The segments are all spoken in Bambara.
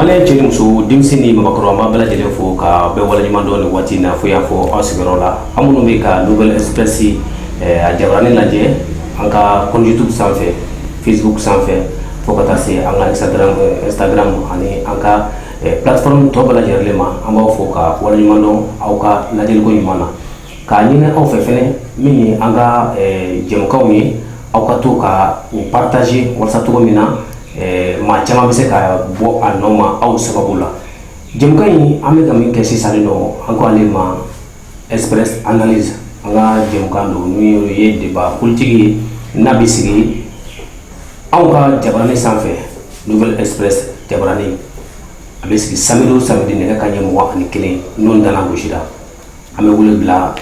Malien cɛ ni muso denmisɛn ni maabakɔrɔ an b'aw bɛɛ lajɛlen fo k'aw bɛɛ waleɲuman dɔn nin waati in na fo y'a fɔ aw sigiyɔrɔ la an minnu bɛ ka nouvelle express a jabaranin lajɛ an ka compte youtube sanfɛ facebook sanfɛ fo ka taa se an ka instagram ani an ka plateforme tɔ bɛɛ lajɛlen ma an b'aw fo k'aw waleɲumandɔn aw ka lajɛliko ɲuman na K'a ɲini aw fɛ fɛn min ye an ka jɛmukanw ye aw ka to ka u partager walasa cogo min na maa caman bɛ se ka bɔ a nun ma aw sababu la jɛmukan in an bɛ ka min kɛ sisan don an ko ale ma express analyse an ka jɛmukan don n'o ye débat politique ye n'a bɛ sigi anw ka jabaranin sanfɛ nouvelle express jabaranin a bɛ sigi samedi o samedi nɛgɛ kanɲɛ mugan ani kelen n'o nana gosi su la an bɛ wele bila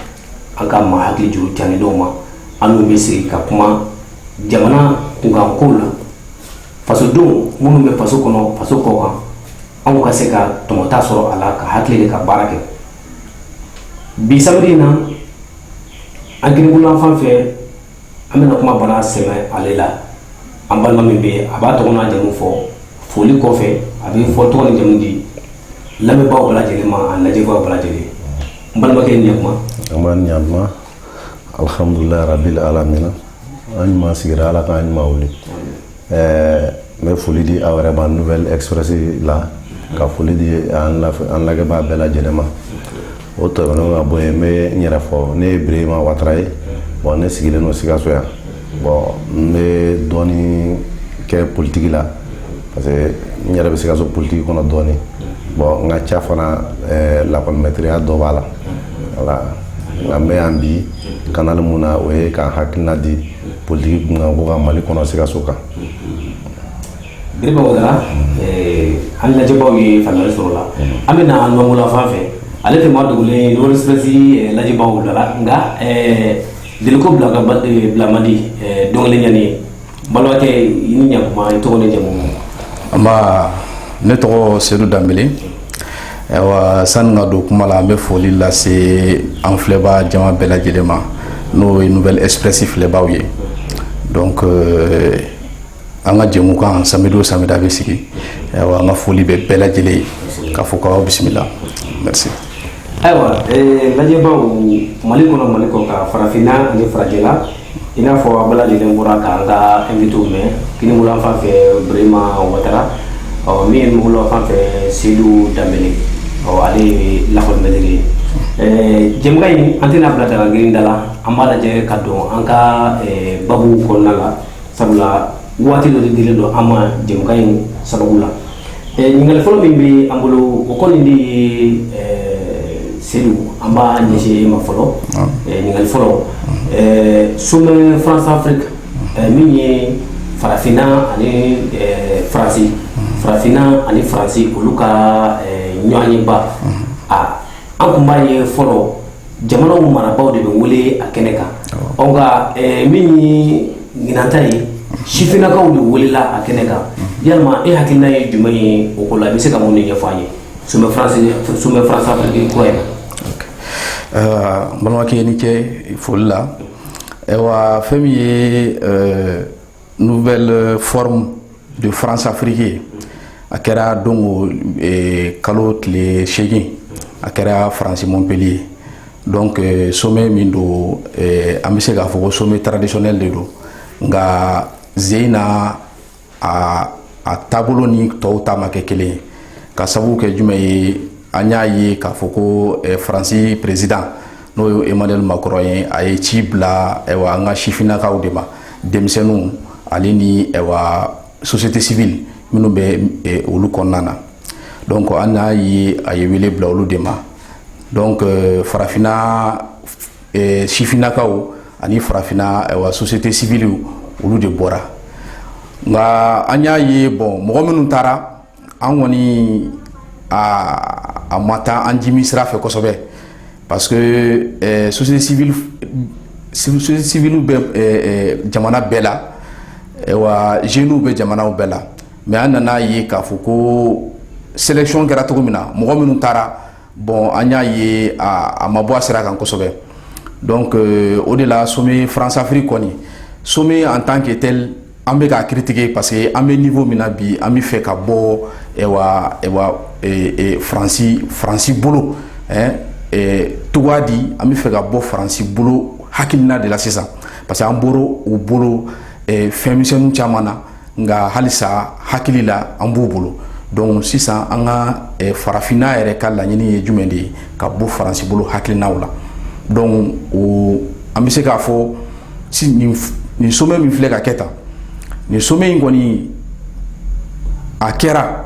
an ka maa hakili juru caanen dɔw ma an n'u bɛ sigi ka kuma jamana kunkankow la fasodenw minnu bɛ faso kɔnɔ faso kɔkan anw ka se ka tɔmɔta sɔrɔ a la ka hakili de ka baara kɛ bi sibiri in na an kinibolo la fan fɛ An bɛna kuma bara sɛmɛ ale la an balima min bɛ a b'a tɔgɔ n'a jamu fɔ foli kɔfɛ a bɛ fɔ tɔgɔ ni jamu di lamɛnbaa bɛɛ lajɛlen ma ani lajɛbaa bɛɛ lajɛlen n balimakɛ i ni ɲakuma nba ɲakuma alihamdulilayi rabili alamina an ɲuman sigira ala k'an ɲuman wuli ɛɛ n bɛ foli di aw yɛrɛ ma nouvelle express la ka foli di an lajɛbaa bɛɛ lajɛlen ma o tɛmɛnen ka bɔ yen n bɛ n yɛrɛ fɔ ne ye Birahima Watara ye bon ne sigilen don Sikaso yan bon n bɛ dɔɔni kɛ politiki la parce que n yɛrɛ bɛ Sikaso politiki kɔnɔ dɔɔni bon n ka ca fana ɛɛ lakɔli mɛtiriya dɔ b'a la voilà nka n bɛ yan bi canal mun na o ye ka n hakilina di politiki kunkanko kan mali kɔnɔ sikaso kan birahima watara an lajɛbaw ye faamuyali sɔrɔ la an bɛ na numanbolo la fan fɛ ale tɛ maa dogolen ye nouvelle express lajɛbaw dala nka deliko bila man di dɔnkili ɲani ye balimakɛ i ni ɲakuma i tɔgɔ ni jamu nba ne tɔgɔ sedu danbele Sani n ka don kuma la an bɛ foli lase an filɛba jama bɛɛ lajɛlen ma n'o ye nouvelle express filɛbaw ye donc an ka jɛmukan samedi o samedi a bɛ sigi an ka foli bɛ bɛɛ lajɛlen ye k'aw fo k'aw bisimila merci ayiwa lajɛbaw mali kɔnɔ mali kɔkan farafinna ni farajɛla i n'a fɔ aw bɛɛ lajɛlen bɔra k'an ka invitéw mɛn kinibolo la fan fɛ birahima watara min ye numanbolo la fan fɛ sedu danbele ale ye lakɔli mɛtiri ye jɛmukan in an tɛna bila daga grinda la an b'a lajɛ ka don an ka babu kɔnɔna la sabula waati dɔ de dilen don an ma jɛmukan in sababu la eh, ɲininkali fɔlɔ min bɛ an bolo o kɔni de ye eh, sedu an b'a ɲɛsin e ma fɔlɔ ah. eh, ɲininkali fɔlɔ sommet france afrique min ye farafinna ani faransi farafinna ani faransi olu ka ɲɔgɔnyeba ah. a ah, an tun b'a ye fɔlɔ jamanaw marabagaw de bɛ wele a kɛnɛ kan nka min ye ɲinan ta ye sifinnakaw de welela a kɛnɛ kan yalima e hakilina ye jumɛn ye o ko la i bɛ se ka mun de ɲɛfɔ an ye sommet France Afrique kura in na balimakɛ i ni ce foli la wa fɛn min ye nouvelle euh, forme de France Afrique ye a kɛra don eh, kalo tile seegin a kɛra Faransi Montpellier donc eh, sommet min don eh, an bɛ se k'a fɔ ko sommet traditionnel de don nka zeyi na a a taabolo ni tɔw ta ma kɛ kelen ye ka sababu kɛ jumɛn ye an y'a ye k'a fɔ ko faransi président n'o ye Emmanuel Macron ye a ye ci bila ɛwa an ka sifinnakaw de ma denmisɛnninw ale ni ɛwa société civile minnu bɛ e, olu kɔnɔna na donc an y'a ye a ye wele bila olu de ma donc euh, farafinna e, sifinnakaw ani farafinna ɛwa société civile olu de bɔra nka an y'a ye bon mɔgɔ minnu taara an kɔni a ma taa an jimi sira fɛ kosɛbɛ parce que société civile société civile bɛ jamana bɛɛ la wa jeunes bɛ jamanaw bɛɛ la mais an nana a ye k'a fɔ ko sélection kɛra cogo min na mɔgɔ minnu taara bon an y'a ye a ma bɔ a sira kan kosɛbɛ donc o de la sommet France Afrique kɔni sommet en tant que tel an bɛ k'a critiquer parce que an bɛ niveau min na bi an b'a fɛ ka bɔ ɛwa ɛwa ee Faransi Faransi bolo ɛɛ ee tɔgɔ ye di an b'a fɛ ka bɔ Faransi bolo hakilina de la sisan parce que an bɔra u bolo ee fɛn misɛnninw caman na nka halisa hakili la an b'u bolo donc sisan an ka ee farafinna yɛrɛ ka laɲini ye jumɛn de ye ka bɔ Faransi bolo hakilinaw la donc o an bɛ se k'a fɔ nin sommet min filɛ ka kɛ tan nin sommet in kɔni a kɛra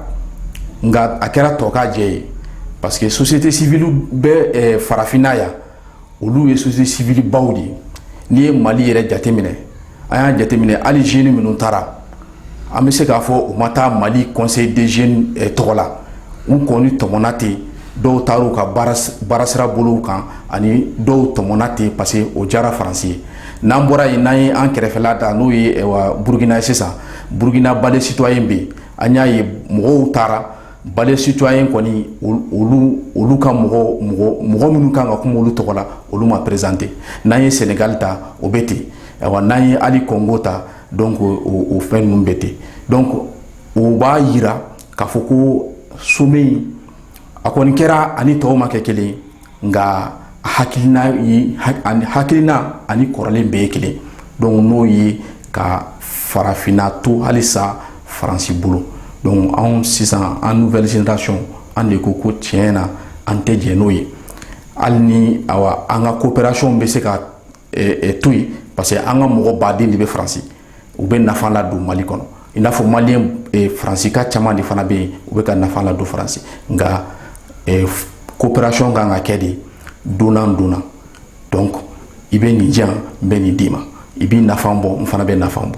nka a kɛra tɔkajɛ ye parce que société civile bɛ farafinna yan olu ye société civile baw de ye n'i ye mali yɛrɛ jateminɛ an y'a jateminɛ hali jeunes minnu taara an bɛ se k'a fɔ u ma taa mali conseil des jeunes tɔgɔ la u kɔni tɔmɔna ten dɔw tara u ka baarasira bolow kan ani dɔw tɔmɔna ten parce que o diyara faransi ye n'an bɔra yen n'an ye an kɛrɛfɛla ta n'o ye burukina ye sisan burukina balai citoyen bɛ yen an y'a ye mɔgɔw taara balai citoyen kɔni olu ka mɔgɔ mɔgɔ minnu kan ka kuma olu tɔgɔ la olu ma présenté n'an ye sɛnɛgali ta o bɛ ten n'an ye hali kongo ta donc o fɛn ninnu bɛ ten donc o b'a jira k'a fɔ ko sommet in a kɔni kɛra ani tɔw ma kɛ kelen nka hakilina hakilina ani kɔrɔlen bɛɛ ye kelen don n'o ye ka farafinna to halisa faransi bolo donc anw sisan an nouvelle génération an de ko ko tiɲɛ na an tɛ jɛn n'o ye hali ni an ka coopération bɛ se ka to yen parce que an ka mɔgɔ baden de bɛ faransi u bɛ nafa ladon mali kɔnɔ i n'a fɔ mali yan faransika caman de fana bɛ yen u bɛ ka nafa ladon faransi nka coopération kan ka kɛ de donnant donnant donc i bɛ nin di yan n bɛ nin d'i ma i b'i nafa bɔ n fana bɛ nafa bɔ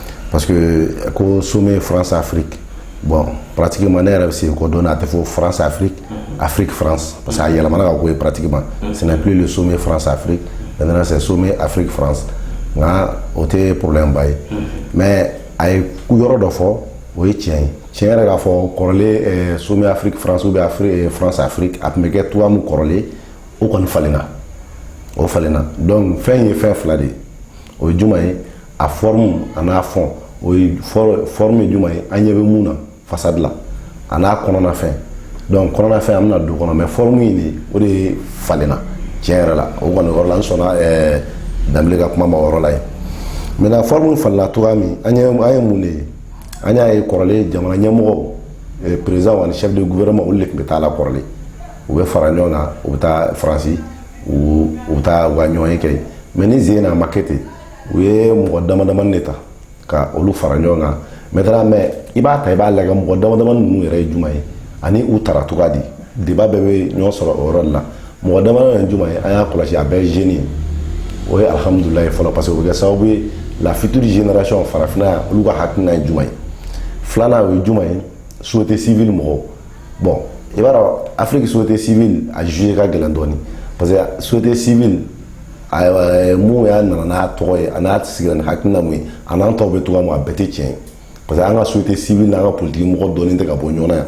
parce que ko sommet France Afrique bon pratiquement ne yɛrɛ bɛ sigi ko don na a tɛ fɔ France Afrique Afrique France parce que a yɛlɛmana ka k'o ye pratiquement ce n'est plus le sommet France Afrique maintenant c'est sommet Afrique France nka o tɛ problème ba ye mais a ye yɔrɔ dɔ fɔ o ye tiɲɛ ye tiɲɛ yɛrɛ k'a fɔ kɔrɔlen eh, sommet Afrique France ou bien Afri- eh, France Afrique a tun bɛ kɛ cogoya min kɔrɔlen o kɔni falenna o falenna donc fɛn ye fɛn fila de ye o ye juma ye a forme a n'a fond o ye forme ye juma ye an ɲɛ bɛ mun na façade la a n'a kɔnɔnafɛn donc kɔnɔnafɛn an bɛna don kɔnɔ mais forme in de o de falenna tiɲɛ yɛrɛ la o kɔni yɔrɔ la n sɔnna ɛɛ danbele ka kuma ma o yɔrɔ la yen maintenant forme falenna cogoya min an ye an ye mun de ye an y'a ye kɔrɔlen jamana ɲɛmɔgɔw président ani chef de gouvernement olu de tun bɛ taa la kɔrɔlen u bɛ fara ɲɔgɔn kan u bɛ taa faransi u bɛ taa u ka ɲɔgɔnye kɛ yen mais nin sen na a ma kɛ ten u ye mɔgɔ dama damani de ta ka olu fara ɲɔgɔn kan maintenant mais i b'a ta i b'a lajɛ mɔgɔ dama damani ninnu yɛrɛ ye juma ye ani u tara cogoya di débat bɛɛ bɛ ɲɔgɔn sɔrɔ o yɔrɔ de la mɔgɔ dama damani ye juma ye an y'a kɔlɔsi a bɛɛ ye jeune ye o ye alihamudulila ye fɔlɔ parce que o bɛ kɛ sababu ye la future génération farafinna yan olu ka hakilina ye juma ye filanan o ye juma ye société civile mɔgɔw bon i b'a dɔn afiriki société civile a jouer ka gɛlɛn dɔɔni parce que société civile eh, mun y'a nana n'a tɔgɔ ye a n'a sigira ni hakilina mun ye a n'an tɔw bɛ cogoya mun a bɛɛ tɛ tiɲɛ ye parce que an ka société civile n'an ka politiki mɔgɔ dɔɔni tɛ ka bɔ ɲɔgɔn na yan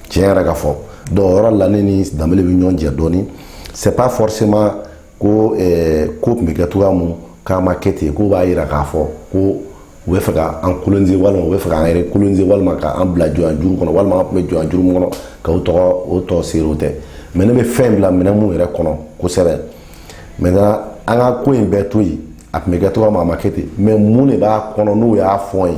tiɲɛ yɛrɛ ka fɔ donc o yɔrɔ la ne ni danbele bɛ ɲɔgɔn jɛ dɔɔni c'est pas forcément ko ko tun bɛ kɛ cogoya min k'a ma kɛ ten k'o b'a jira k'a fɔ ko u bɛ fɛ ka an coloniser walima u bɛ fɛ k'an yɛrɛ coloniser walima k'an bila jɔn juru kɔnɔ walima an tun bɛ jɔn juru min kɔnɔ k'o tɔ serrer o tɛ mais ne bɛ fɛn bila minɛn minnu yɛrɛ kɔnɔ kosɛbɛ mais an ka ko in bɛɛ to yen a tun bɛ kɛ cogoya min a ma kɛ ten mais mun de b'a kɔnɔ n'o y'a fɔ ye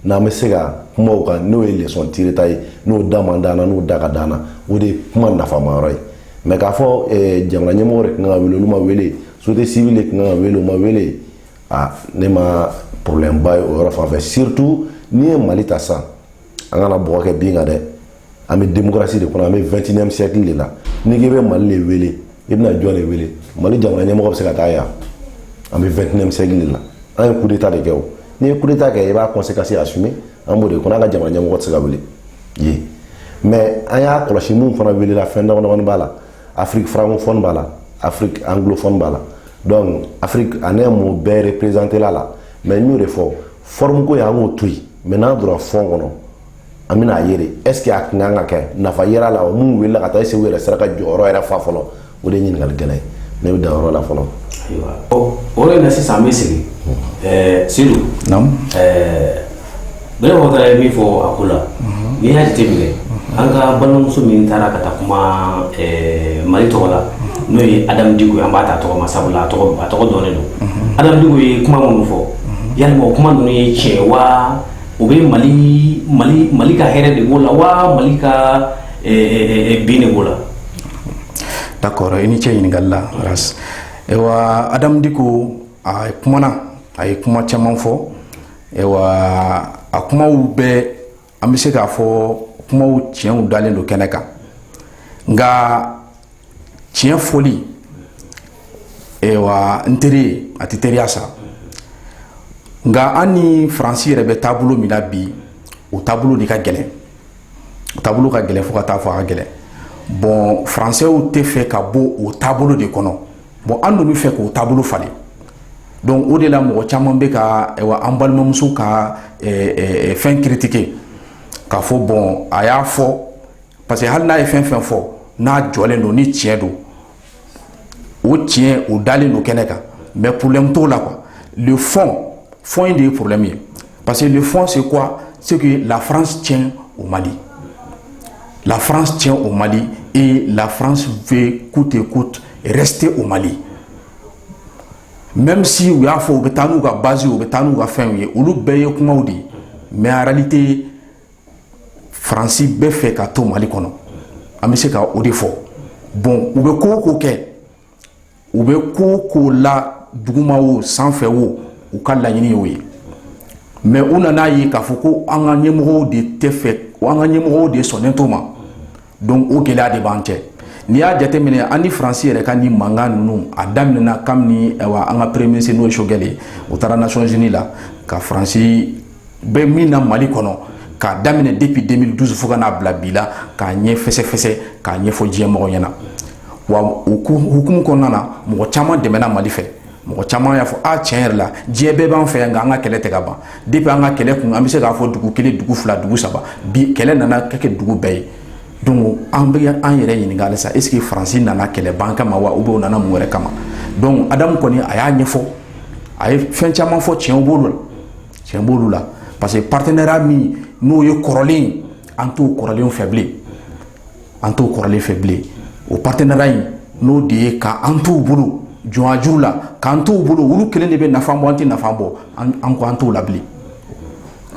n'an bɛ se ka kuma o kan n'o ye lesɔn tirita ye n'o da man d'an na n'o da ka d'an na o de ye kuma nafama yɔrɔ ye mais k'a fɔ eh, jamana ɲɛmɔgɔ de tun kan ka wele olu ma wele société civile de tun kan ka wele o ma wele a ne ma problème ba ye o yɔrɔ fan fɛ surtout n'i ye mali ta sisan an kana bɔgɔ kɛ bin kan dɛ an bɛ démocratie de kɔnɔ an bɛ 21e siècle de la n'i k'i bɛ mali de wele i bɛna jɔn de wele mali jamana ɲɛmɔgɔ bɛ se ka taa yan an bɛ 21e siècle de la an ye coup d'état de kɛ o n'i ye coup d'état kɛ i b'a conséquence assumer an b'o de kɔnɔ an ka jamana ɲɛmɔgɔ tɛ se ka wele ye mais an y'a kɔlɔsi minnu fana welela fɛn damadamani b'a la afiriki francophone b'a la afiriki anglophone b'a la donc afiriki en un mot bɛɛ reprezantela la mais n y'o de fɔ forme ko ye an k'o to yen mais n'an donna fond kɔnɔ an bɛna a ye de est-ce que a tun kan ka kɛ nafa yera a la minnu welela ka taa est-ce u yɛrɛ sera ka jɔyɔrɔ yɛrɛ fa fɔlɔ o de ye ɲininkali gɛlɛn ye ne bɛ dan yɔrɔ la fɔlɔ o de na sisan an bɛ segin seydou bɛɛmɔgɔ taara ye min fɔ a ko la n'i y'a jate minɛ an ka balimamuso min taara ka taa kuma mali tɔgɔ la n'o ye adamu diko ye an b'a ta tɔgɔ ma sabula a tɔgɔ dɔnen don adamu diko ye kuma minnu fɔ yala o kuma ninnu ye tiɲɛ wa o bɛ mali ka hɛrɛ de b'o la wa mali ka bin de b'o la d'accord i ni ce ɲininkali la ras ewa adamu diko a kumana a ye kuma caman fɔ ewa a kumaw bɛɛ an bɛ se k'a fɔ kumaw tiɲɛw dalen don kɛnɛ kan nka tiɲɛ fɔli ewa n teri ye a tɛ teriya sa nka an ni faransi yɛrɛ bɛ taabolo min na bi o taabolo de ka gɛlɛn taabolo ka gɛlɛn fo ka taa fɔ a ka gɛlɛn bon faransɛw tɛ fɛ ka bɔ o taabolo de kɔnɔ bon an dun bɛ fɛ k'o taabolo falen donc o de la mɔgɔ caman bɛ ka ewa an balimamuso ka fɛn critiquer k'a fɔ bon a y'a fɔ parce que hali n'a ye fɛn fɛn fɔ n'a jɔlen don ni tiɲɛ don o tiɲɛ o dalen don kɛnɛ kan mais problème t'o la quoi le fond fond in de ye problème ye parce que le fond c'est quoi c'est que la France tient au Mali la France tient au Mali et la France veut coûte et coûte rester au Mali même si u y'a fɔ u bɛ taa n'u ka base u bɛ taa n'u ka fɛnw ye olu bɛɛ ye kumaw de ye mais en réalité faransi b'a fɛ ka to mali kɔnɔ an bɛ se ka o de fɔ bon u bɛ ko o ko kɛ u bɛ ko o ko la duguma o sanfɛ o u ka laɲini y'o ye mais u nana a ye k'a fɔ ko an ka ɲɛmɔgɔw de t'a fɛ an ka ɲɛmɔgɔw de sɔnnen t'o ma donc o gɛlɛya de b'an cɛ n'i y'a jateminɛ an ni faransi yɛrɛ ka nin mankan ninnu a daminɛna kabini an ka premier ministre n'o ye Choguel ye o taara nations unis la ka faransi bɛ min na mali kɔnɔ k'a daminɛ depuis 2012 fo ka n'a bila bi la k'a ɲɛ fɛsɛfɛsɛ k'a ɲɛfɔ diɲɛ mɔgɔ ɲɛna wa o hukumu kɔnɔna na mɔgɔ caman dɛmɛna mali fɛ mɔgɔ caman y'a fɔ a tiɲɛ yɛrɛ la diɲɛ bɛɛ b'an fɛ yan nka an ka kɛlɛ tɛ ka ban depuis an ka kɛlɛ kun an bɛ se k'a fɔ dugu kelen dugu fila dugu saba bi kɛlɛ nana ka kɛ dugu bɛɛ ye donc an bɛ an yɛrɛ ɲininka halisa est ce que faransi nana kɛlɛ ban kama wa ou bien u nana mun wɛrɛ kama donc adamu kɔni a y'a ɲɛfɔ a ye fɛn caman fɔ tiɲɛ b'olu la tiɲɛ b'olu la parce que partenariat min n'o ye kɔrɔlen ye an t'o kɔrɔlen fɛ bilen an t'o kɔrɔlen fɛ bilen o partenariat in n'o de ye ka an t'u bolo jɔnjuru la k'an t'u bolo olu kelen de bɛ nafa bɔ an tɛ nafa bɔ an ko an t'o la bilen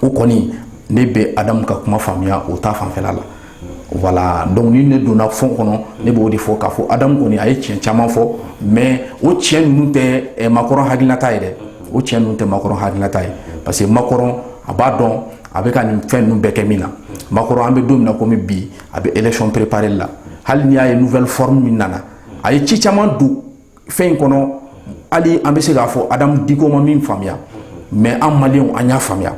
o kɔni ne bɛ adamu ka kuma faamuya o ta fanfɛla la voilà donc ni ne donna fond kɔnɔ ne b'o de fɔ k'a fɔ adamu kɔni a ye tiɲɛ caman fɔ mais o tiɲɛ ninnu tɛ Macron hakilinata ye dɛ o tiɲɛ ninnu tɛ Macron hakilinata ye parce que Macron a b'a dɔn a bɛ ka nin fɛn ninnu bɛɛ kɛ min na Macron an bɛ don min na komi bi a bɛ élection préparée la hali n'i y'a ye nouvelle forme min nana a ye ci caman don fɛn in kɔnɔ hali an bɛ se k'a fɔ Adamu Diko ma min faamuya mais an maliyɛnw an y'a faamuya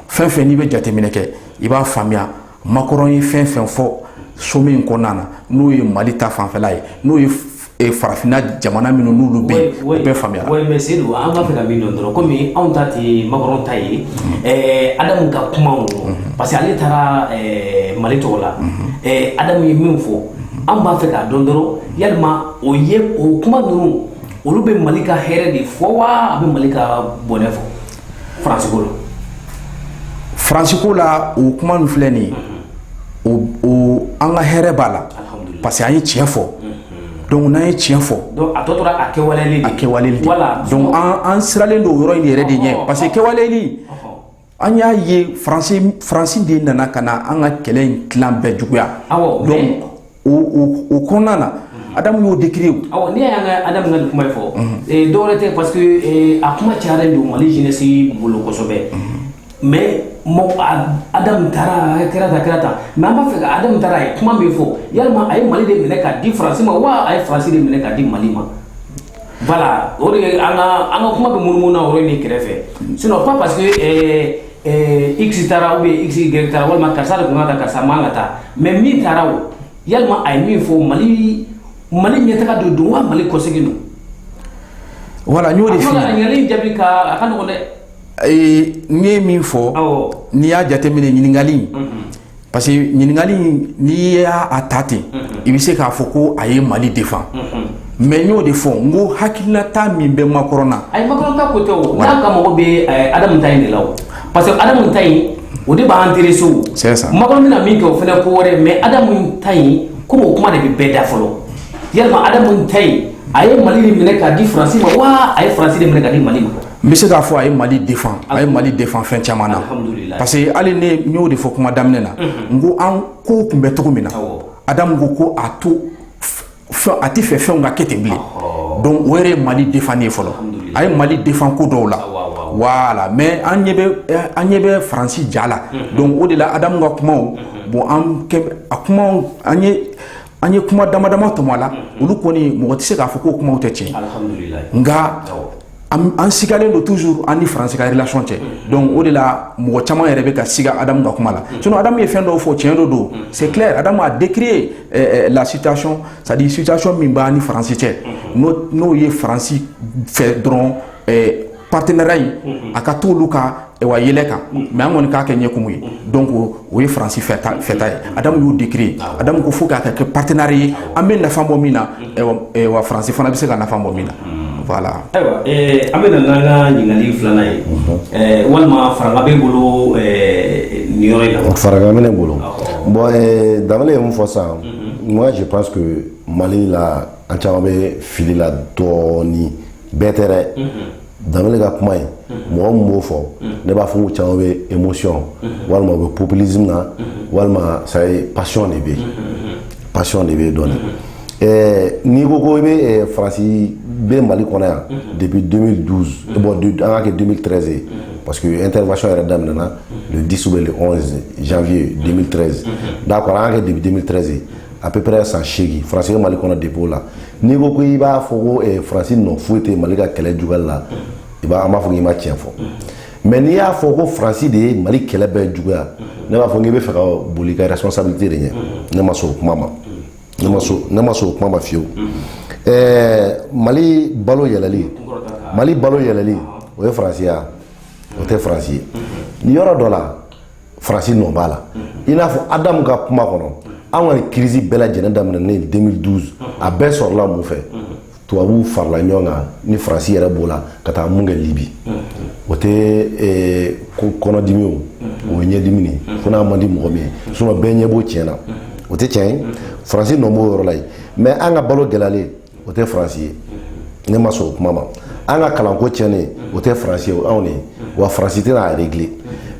fɛn o fɛn n'i bɛ jateminɛ kɛ i b'a faamuya Macron ye fɛn fɛn fɔ sommet in kɔnɔna na n'o ye Mali ta fanfɛla ye n'o ye farafinna jamana minnu n'olu bɛ yen o bɛɛ faamuyara, mais Seyidu an b'a fɛ ka min dɔn dɔrɔn komi anw ta tɛ Macron ta ye Adamu ka kumaw parce que ale taara Mali tɔgɔ la Adamu ye min fɔ an b'a fɛ k'a dɔn dɔrɔn yalima o ye o kuma ninnu olu bɛ Mali ka hɛrɛ de fɔ wa a bɛ Mali ka bɔnɛ fɔ Faransi ko faransi ko la o kuma min filɛ nin ye an ka hɛrɛ b'a la parce que an ye tiɲɛ fɔ donc n'an ye tiɲɛ fɔ a kɛwaleli de don an siralen don o yɔrɔ in yɛrɛ de ɲɛ parce que kɛwaleli an y'a ye faransi de nana ka na an ka kɛlɛ in tilan bɛɛ juguya o kɔnɔna na adamu y'o décrire awɔ ne y'an ka adamu ka nin kuma in fɔ ee dɔwɛrɛ tɛ parce que ee a kuma cayalen don mali jeunesse bolo kosɛbɛ mais mɔgɔ adamu taara a kɛra tan kɛra tan mais an b'a fɛ ka adamu taara a ye kuma min fɔ yalima a ye mali de minɛ k'a di faransi ma wa a ye faransi de minɛ k'a di mali ma voilà o de ye an ka an ka kuma bɛ munumunu na o yɔrɔ in de kɛrɛfɛ sinon pas parce que ee Ɛɛ x taara ou bien y taara walima karisa de tun kan ka taa karisa man kan ka taa mais min taara o yalima a ye min fɔ mali mali ɲɛtaga de don wa mali kɔsegin don voilà n y'o de ɲininkali jaabi ka a ka nɔgɔn dɛ ee n ye min fɔ n'i y'a jateminɛ ɲininkali Parce que ɲininkali n'i y'a ta ten i bɛ se k'a fɔ ko a ye mali défend mais n y'o de fɔ n ko hakilinata min bɛ macron na a ye macron ta côté n'a ka mɔgɔw bɛ adamu ta in de la parce que adamu ta in o de b'an intéresser o macron bɛna min kɛ o fana ko wɛrɛ mais adamu ta in comme o kuma de bɛ bɛɛ da fɔlɔ yalima adamu ta in a ye mali minɛ k'a di faransi ma wa a ye faransi minɛ k'a di mali ma n bɛ se k'a fɔ a ye mali défend a ye mali défend fɛn caman na parce que hali n y'o de fɔ kuma daminɛ na n ko an ko tun bɛ cogo min na adamu ko a to a tɛ fɛ fɛnw ka kɛ ten bilen donc o yɛrɛ ye mali défend ye fɔlɔ a ye mali défend ko dɔw la voilà mais an ɲɛ bɛ faransi ja la donc o de la adamu ka kumaw bon an a kuma an ye an ye kuma dama dama tɔmɔ a la olu kɔni mɔgɔ tɛ se k'a fɔ ko kumaw tɛ tiɲɛ nka an sigalen don toujours an ni faransi ka relation cɛ donc o de la mɔgɔ caman yɛrɛ bɛ ka siga adamu ka kuma la sinon adamu ye fɛn dɔw fɔ cɛn dɔ don c'est clair adamu a décrié la situation c'est-à-dire situation min b'an ni faransi cɛ n'o ye faransi fɛ dɔrɔn partenariat in a ka to olu kan wa yɛlɛ kan mais an kɔni k'a kɛ ɲɛkumu ye donc o ye faransi fɛta ye adamu y'o décrier adamu ko fo k'a kɛ partenariat ye an bɛ nafa bɔ min na wa faransi fana bɛ se ka nafa bɔ min na voilà ayiwa an bɛ na n'an ka ɲininkali filanan ye walima farankan bɛ bolo nin yɔrɔ farankan bɛ ne bolo bon danbele ye min fɔ sa moi je pense que mali la an caman bɛ fili la dɔɔnin bɛɛ tɛ danbele ka kuma in mɔgɔ min b'o fɔ ne b'a fɔ ko caman bɛ émotion walima u bɛ populisme na walima ça y est passion de bɛ passion de bɛ dɔɔnin ɛɛ n'i ko ko i bɛ eh, faransi bɛ mali kɔnɔ yan depuis 2012 eh, bon an k'a kɛ 2013 ye parce que intervention yɛrɛ daminɛna le 10 ou le 11 janvier 2013 d'accord an k'a kɛ depuis 2013 ye à peu près san seegin faransi bɛ mali kɔnɔ depuis o la n'i ko ko i b'a fɔ ko eh, faransi nɔ foyi tɛ mali ka kɛlɛ juguyali la i b'a an b'a fɔ k'i ma tiɲɛ fɔ mais n'i y'a fɔ ko faransi de ye mali kɛlɛ bɛɛ juguya ne b'a fɔ k'i bɛ fɛ ka boli i ka responsabilité de ɲɛ ne ma sɔn o kuma ma ne ma sɔn ne ma sɔn o kuma ma fiyewu eh, mali balo yɛlɛli mali balo yɛlɛli o ye faransi ye o tɛ faransi ye yɔrɔ dɔ la faransi nɔ b'a la i n'a fɔ adamu ka kuma kɔnɔ an ka nin crise bɛɛ lajɛlen daminɛnen 2012 a bɛɛ sɔrɔla mun fɛ tubabuw farala ɲɔgɔn kan ni faransi yɛrɛ b'o la ka taa mun kɛ libi o tɛ eh, kɔnɔdimi o o ye ɲɛdimi de ye fo n'a man di mɔgɔ min ye sinon bɛɛ ɲɛ b'o tiɲɛ na o tɛ tiɲɛ ye faransi nɔ b'o yɔrɔ la yen mais an ka balo gɛlɛyalen o tɛ faransi ye ne ma sɔn o kuma ma an ka kalanko tiɲɛnen o tɛ faransi ye o anw de ye wa faransi tɛna a régler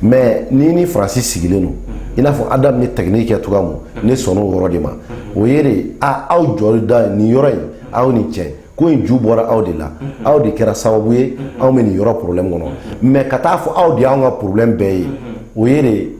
mais ni ni faransi sigilen don i n'a fɔ adamu ni technique kɛ cogoya min ne sɔnna o yɔrɔ de ma o ye de a aw jɔda nin yɔrɔ in aw ni cɛ ko in ju bɔra aw de la aw de kɛra sababu ye anw bɛ nin yɔrɔ problème kɔnɔ mais ka taa fɔ aw de y'anw ka problème bɛɛ ye o ye de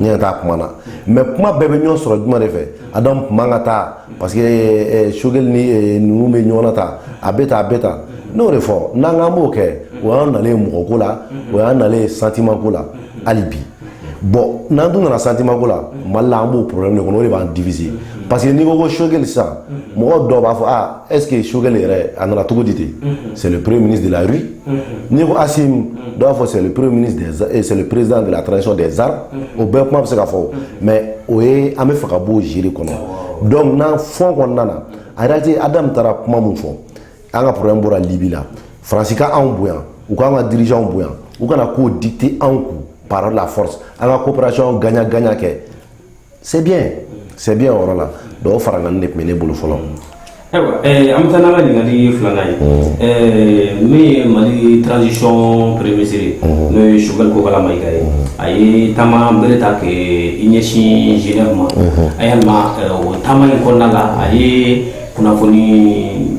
n yɛrɛ t'a kuma na mais kuma bɛɛ bɛ ɲɔgɔn sɔrɔ jumɛn de fɛ adamu kuma ka taa parce que eh, eh, sogɛli ni eh, ninnu bɛ ɲɔgɔn na tan a bɛ tan a bɛ tan n'o de fɔ n'an k'an b'o kɛ o y'an nalen mɔgɔ ko la o y'an nalen sentiment ko la hali bi bon n'an dun nana sentiment ko la mali la an b'o problème de kɔnɔ o de b'an diviser parce que n'i ko ko sogɛli sisan mɔgɔ dɔw b'a fɔ ah est ce que sogɛli yɛrɛ a nana cogo di ten c'est le premier ministre de la rue n'i ko Assimi dɔ b'a fɔ c'est le premier ministre c'est le président de la transition des armes o bɛɛ kuma bɛ se ka fɔ o mais o ye an bɛ fɛ ka bɔ o jeu de kɔnɔ donc n'an fond kɔnɔna na en réalité Adamu taara kuma min fɔ an ka problème bɔra Libye la Faransi ka anw bonya u k'an ka dirigeants bonya u kana k'o dicter anw kun par la force an ka coopération gagnant gagnant kɛ c'est bien c'est bien o yɔrɔ la donc o farankan de tun bɛ ne bolo fɔlɔ ayiwa an bɛ taa n'an ka ɲininkali filanan ye min ye mali transition premier ministre ye n'o ye sogɛli kokala mayiga ye a ye taama bere ta k'i ɲɛsin genève ma a yalima o taama in kɔnɔna la a ye kunnafoni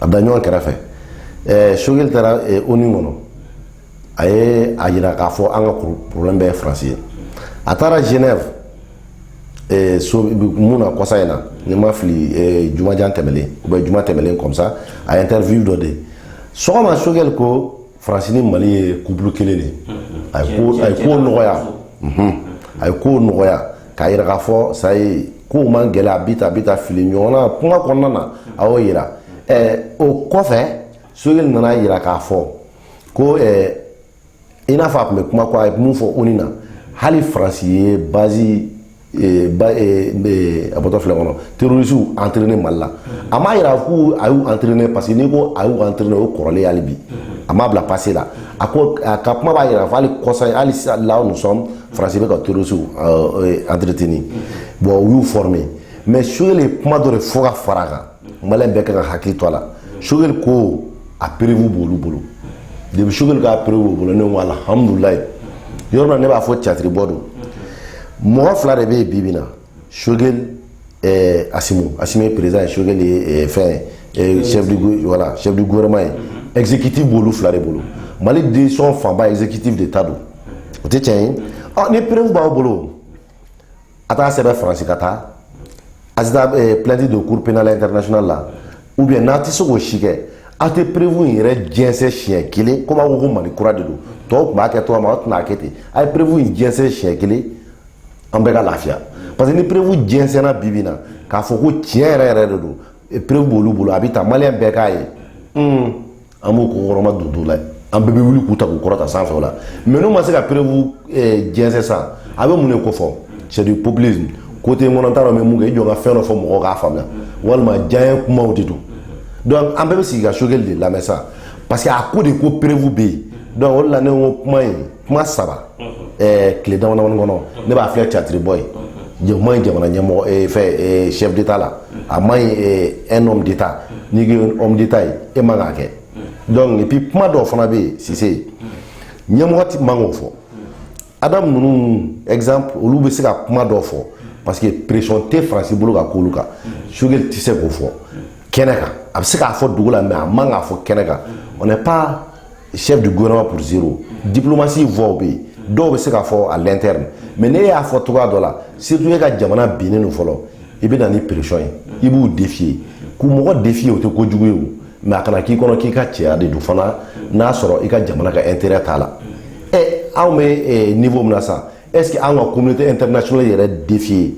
a da ɲɔgɔn kɛrɛfɛ ɛɛ sogɛli taara ONU kɔnɔ a ye a yira k'a fɔ an ka problème bɛɛ ye faransi ye a taara genève ɛɛ so mun na kɔsa in na ni n ma fili ɛɛ jumajan tɛmɛlen ou bien juma tɛmɛlen comme ça a ye interview dɔ di sɔgɔma sogɛli ko faransi ni mali ye couple kelen de a ye ko nɔgɔya a ye ko nɔgɔya k'a yira k'a fɔ ça y est kow man gɛlɛn a bɛ tan a bɛ tan fili ɲɔgɔn na kuma kɔnɔna na a y'o yira o kɔfɛ sogɛli nana a yira k'a fɔ ko i n'a fɔ a tun bɛ kuma ko a ye mun fɔ ONU na hali faransi ye bazi ba a bɔtɔ filɛ kɔnɔ terrorisiw entraîné Mali la a m'a yira ko a y'u entraîné parce que n'i ko a y'u entraîné o kɔrɔlen hali bi a m'a bila passé la a ko a ka kuma b'a yira fɔ hali kɔsa in hali là nous sommes Faransi bɛ ka terrorisiw entretenu bon u y'u former mais Sogɛli ye kuma dɔ de fɔ ka fara a kan maliyɛn bɛɛ ka ka hakili to a la sogɛli ko a perewu b'olu bolo depi sogɛli ka perewu b'o bolo ne ko alihamudulilayi yɔrɔ la ne b'a fɔ catiribɔ don mɔgɔ fila de bɛ yen bi bi na sogɛli ɛɛ asimu asimu ye perezan ye sogɛli ye ɛɛ eh, fɛn eh, chef du voilà chef du gouvernement ye exécutif b'olu fila de bolo mali décision fanba exécutif de ta don o tɛ tiɲɛ ye ɔ ni perewu b'aw bolo a t'a sɛbɛn faransi ka taa a tɛ taa plainte don cour pénale internationale la ou bien n'a tɛ se k'o si kɛ aw tɛ perewu in yɛrɛ jɛnsɛn siɲɛ kelen komi aw ko ko mali kura de don tɔw tun b'a kɛ cogo min aw tɛna a kɛ ten a ye perewu in jɛnsɛn siɲɛ kelen an bɛɛ ka lafiya parce que ni perewu jɛnsɛnna bi bi na k'a fɔ ko tiɲɛ yɛrɛ yɛrɛ de don perewu b'olu bolo a bɛ ta maliyɛn bɛɛ k'a ye an b'u kɔkɔrɔmadon don la an bɛɛ bɛ wuli k'u ta k'u kɔrɔta sanfɛ o la mɛ n'u ma se ka perewu eh, jɛnsɛn sa a bɛ mun de kofɔ c'est du populisme kote n kɔnɔ t'a dɔn mɛ mɔgɔ k'i jɔ ka fɛn dɔ fɔ mɔgɔw k'a faamuya walima diyaɲɛ kumaw de don donc an bɛɛ bɛ sigi ka sogɛli de lamɛn sa parce que a ko de ko perewu bɛ yen donc o de la ne ko kuma in kuma saba tile damadamani kɔnɔ ne b'a filɛ catiribɔ ye a ma ɲi jamana ɲɛmɔgɔ eh, fɛ eh, chef d'état la a ma ɲi eh, un homme d'état n'i ko homme d'état ye e man k'a kɛ donc et puis kuma dɔw fana bɛ yen si c'est ɲɛmɔgɔ ti man k'o fɔ adam ninnu exemple olu bɛ se ka kuma dɔw fɔ parce que pression tɛ faransi bolo ka k'olu kan sogɛli tɛ se k'o fɔ kɛnɛ kan a bɛ se k'a fɔ dugu la mais a man k'a fɔ kɛnɛ kan on n'est pas chef du gouvernement pour zéro diplomatie voie bɛ yen dɔw bɛ se k'a fɔ à l'interne mais ne y'a fɔ cogoya dɔ la surtout e ka jamana binnen don fɔlɔ i bɛ na ni pression ye i b'u défier k'u mɔgɔ défier o tɛ ko jugu ye o mais a kana k'i kɔnɔ k'i ka cɛya de don fana n'a sɔrɔ i ka jamana ka intérêt t'a la ɛ anw bɛ niveau min na sa est ce que anw ka communauté internationale yɛrɛ défier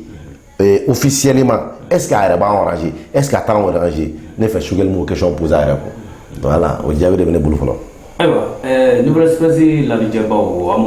ee, officiellement est ce que a yɛrɛ b'an arranger est ce que a t'an arranger ne fɛ sogɛli m'o question poser a yɛrɛ kun voilà o jaabi de bɛ ne bolo fɔlɔ ayiwa eh, nouvelle espèce lajɛbaw an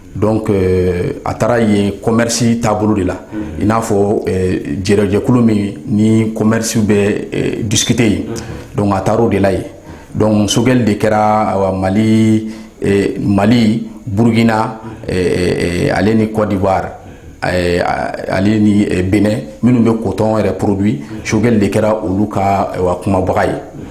donc euh, a taara yen commerce taabolo de la i n'a fɔ euh, jɛrɛ jɛkulu min ni commerce bɛ euh, discuter yen donc a taara o de la yen donc sogɛli de kɛra awa mali mali burkina ale ni côte d'ivoire ale ni bénin minnu bɛ coton yɛrɛ produit sogɛli de kɛra olu ka awa kumabaga ye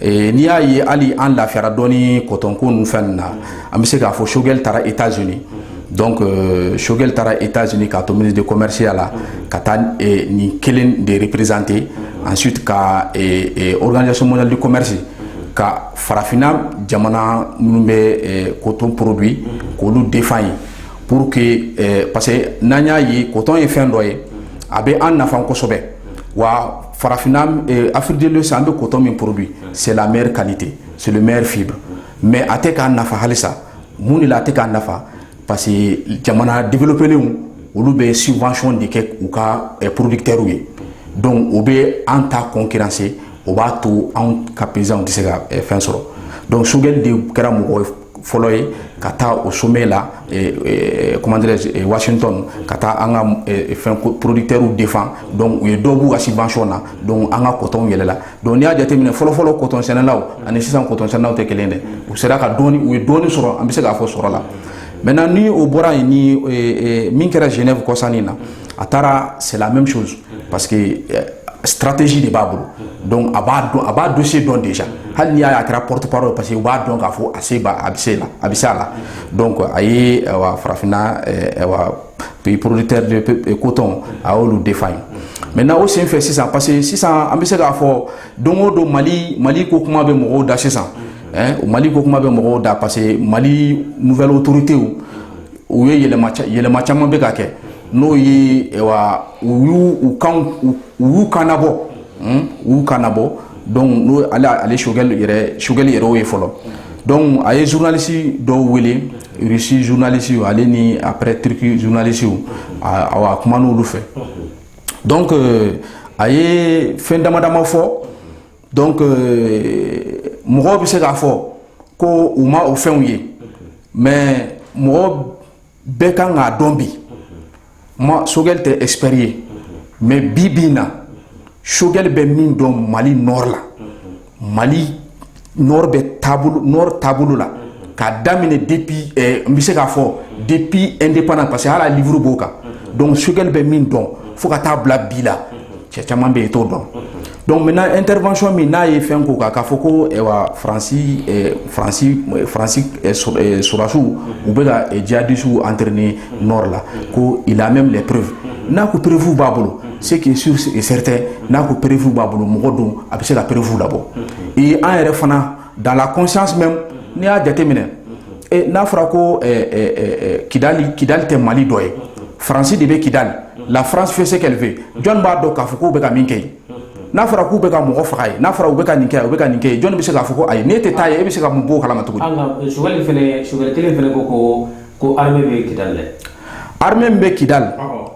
N'i y'a ye hali an lafira dɔn kɔtɔnonkun fɛn na an bɛ se k'a fɔ sokɛ taara i taz sokɛ taara i taz k'a to mini de kɔmɛsiya la ka taa nin kelen de perezte an su ka oksonli commerisi ka farafinna jamana minnu bɛ koto porobi k'olu defa ye pour que parce que n'an y'a ye kotɔn ye fɛn dɔ ye a bɛ an nafa kosɛbɛ wa Farafin afid san an bɛ kotɔ min porobi sɛmeri kate solimeri fi don mɛ a tɛ k'a nafa halisa mun de la a tɛ k'a nafa parce que jamana difiliplenw olu bɛ sifasɔn de kɛ u ka porobikɛriw ye don u bɛ an ta kɔn kise o b'a to anw ka pzw tɛ se ka fɛn sɔrɔ don sokɛ de kɛra mɔgɔ ye fɔlɔ ye ka taa o somɛ la kɔmandɛɛrɛ waatitɔ ka taa an ka fɛn poroditerw defan u ye dɔwbu kasi bancɔn na don an ka kɔtɔnw yɛlɛla don n y'a jateminɛ fɔlɔfɔlɔ kɔtɔnɛlaw ani sisan kɔtɔnɛlaw tɛ kelen dɛ u sera ka u ye dɔɔni sɔrɔ an bɛ se k'a fɔ sɔrɔ la mɛ na ni o bɔra yen min kɛra jɛnɛ kɔsannin na a taara silamɛmɛ misi parce que euh, stratégie de b'a bolo donc a b'a dɔn a b'a dossier dɔn déjà hali n'i y'a ye a kɛra porte parole parce que u b'a dɔn k'a fɔ a se b'a a bɛ se la a bɛ se a la donc a ye awa farafinna awa pays producteur de coton a y'olu défend ye maintenant o senfɛ sisan parce que sisan an bɛ se k'a fɔ don o don mali mali ko kuma bɛ mɔgɔw da sisan o mali ko kuma bɛ mɔgɔw da parce que mali nouvelle autorité u ye yɛlɛma yɛlɛma caman bɛ ka kɛ n'o ye u y'u kanbɔ u y'u kanbɔ donc ale Choguel yɛrɛ ye fɔlɔ donc a ye journaliste dɔw wele Russie journaliste ale ni après Turquie journalistes a kuma n'olu fɛ donc a ye fɛn damadama fɔ donc mɔgɔ bɛ se k'a fɔ ko u ma o fɛnw ye mais mɔgɔ bɛɛ kan k'a dɔn bi ma Choguel tɛ expert ye mais bi bi in na Choguel bɛ min dɔn mali nord la mali nord bɛ nord taabolo la k'a daminɛ depuis n bɛ se k'a fɔ depuis indépendance parce que hali a livre b'o kan donc Choguel bɛ min dɔn fo ka taa bila bi la cɛ caman bɛ yen t'o dɔn Donc maintenant intervention min n'a ye fɛn ko kan k'a fɔ ko ɛwa Faransi ɛ Faransi ɛ Faransi ɛ sɔ ɛ sɔrɔdasiw u bɛ ka ɛ djihadistes entrainer nord la ko il a même les preuves n'a ko preuves b'a bolo ce qui est sur et certain n'a ko preuves b'a bolo mɔgɔ don a bɛ se ka preuves labɔ ee an yɛrɛ fana dans la conscience même n'i y'a jateminɛ e, n'a fɔra ko kidali kidali tɛ mali dɔ ye faransi de bɛ kidali la france fait ce qu'elle veut jɔn b'a dɔn k'a fɔ k'u bɛ ka min kɛ yen n'a fɔra k'u bɛ ka mɔgɔ faga ye n'a fɔra u bɛ ka nin kɛ u bɛ ka nin kɛ jɔn bɛ se k'a fɔ ko ayi n'e tɛ taa ye e bɛ se ka mun b'o kalama cogo di. an ka sogɛli fɛnɛ sogɛli kelen fɛnɛ ko ko ko armée bɛ kidali dɛ. armée min bɛ kidali.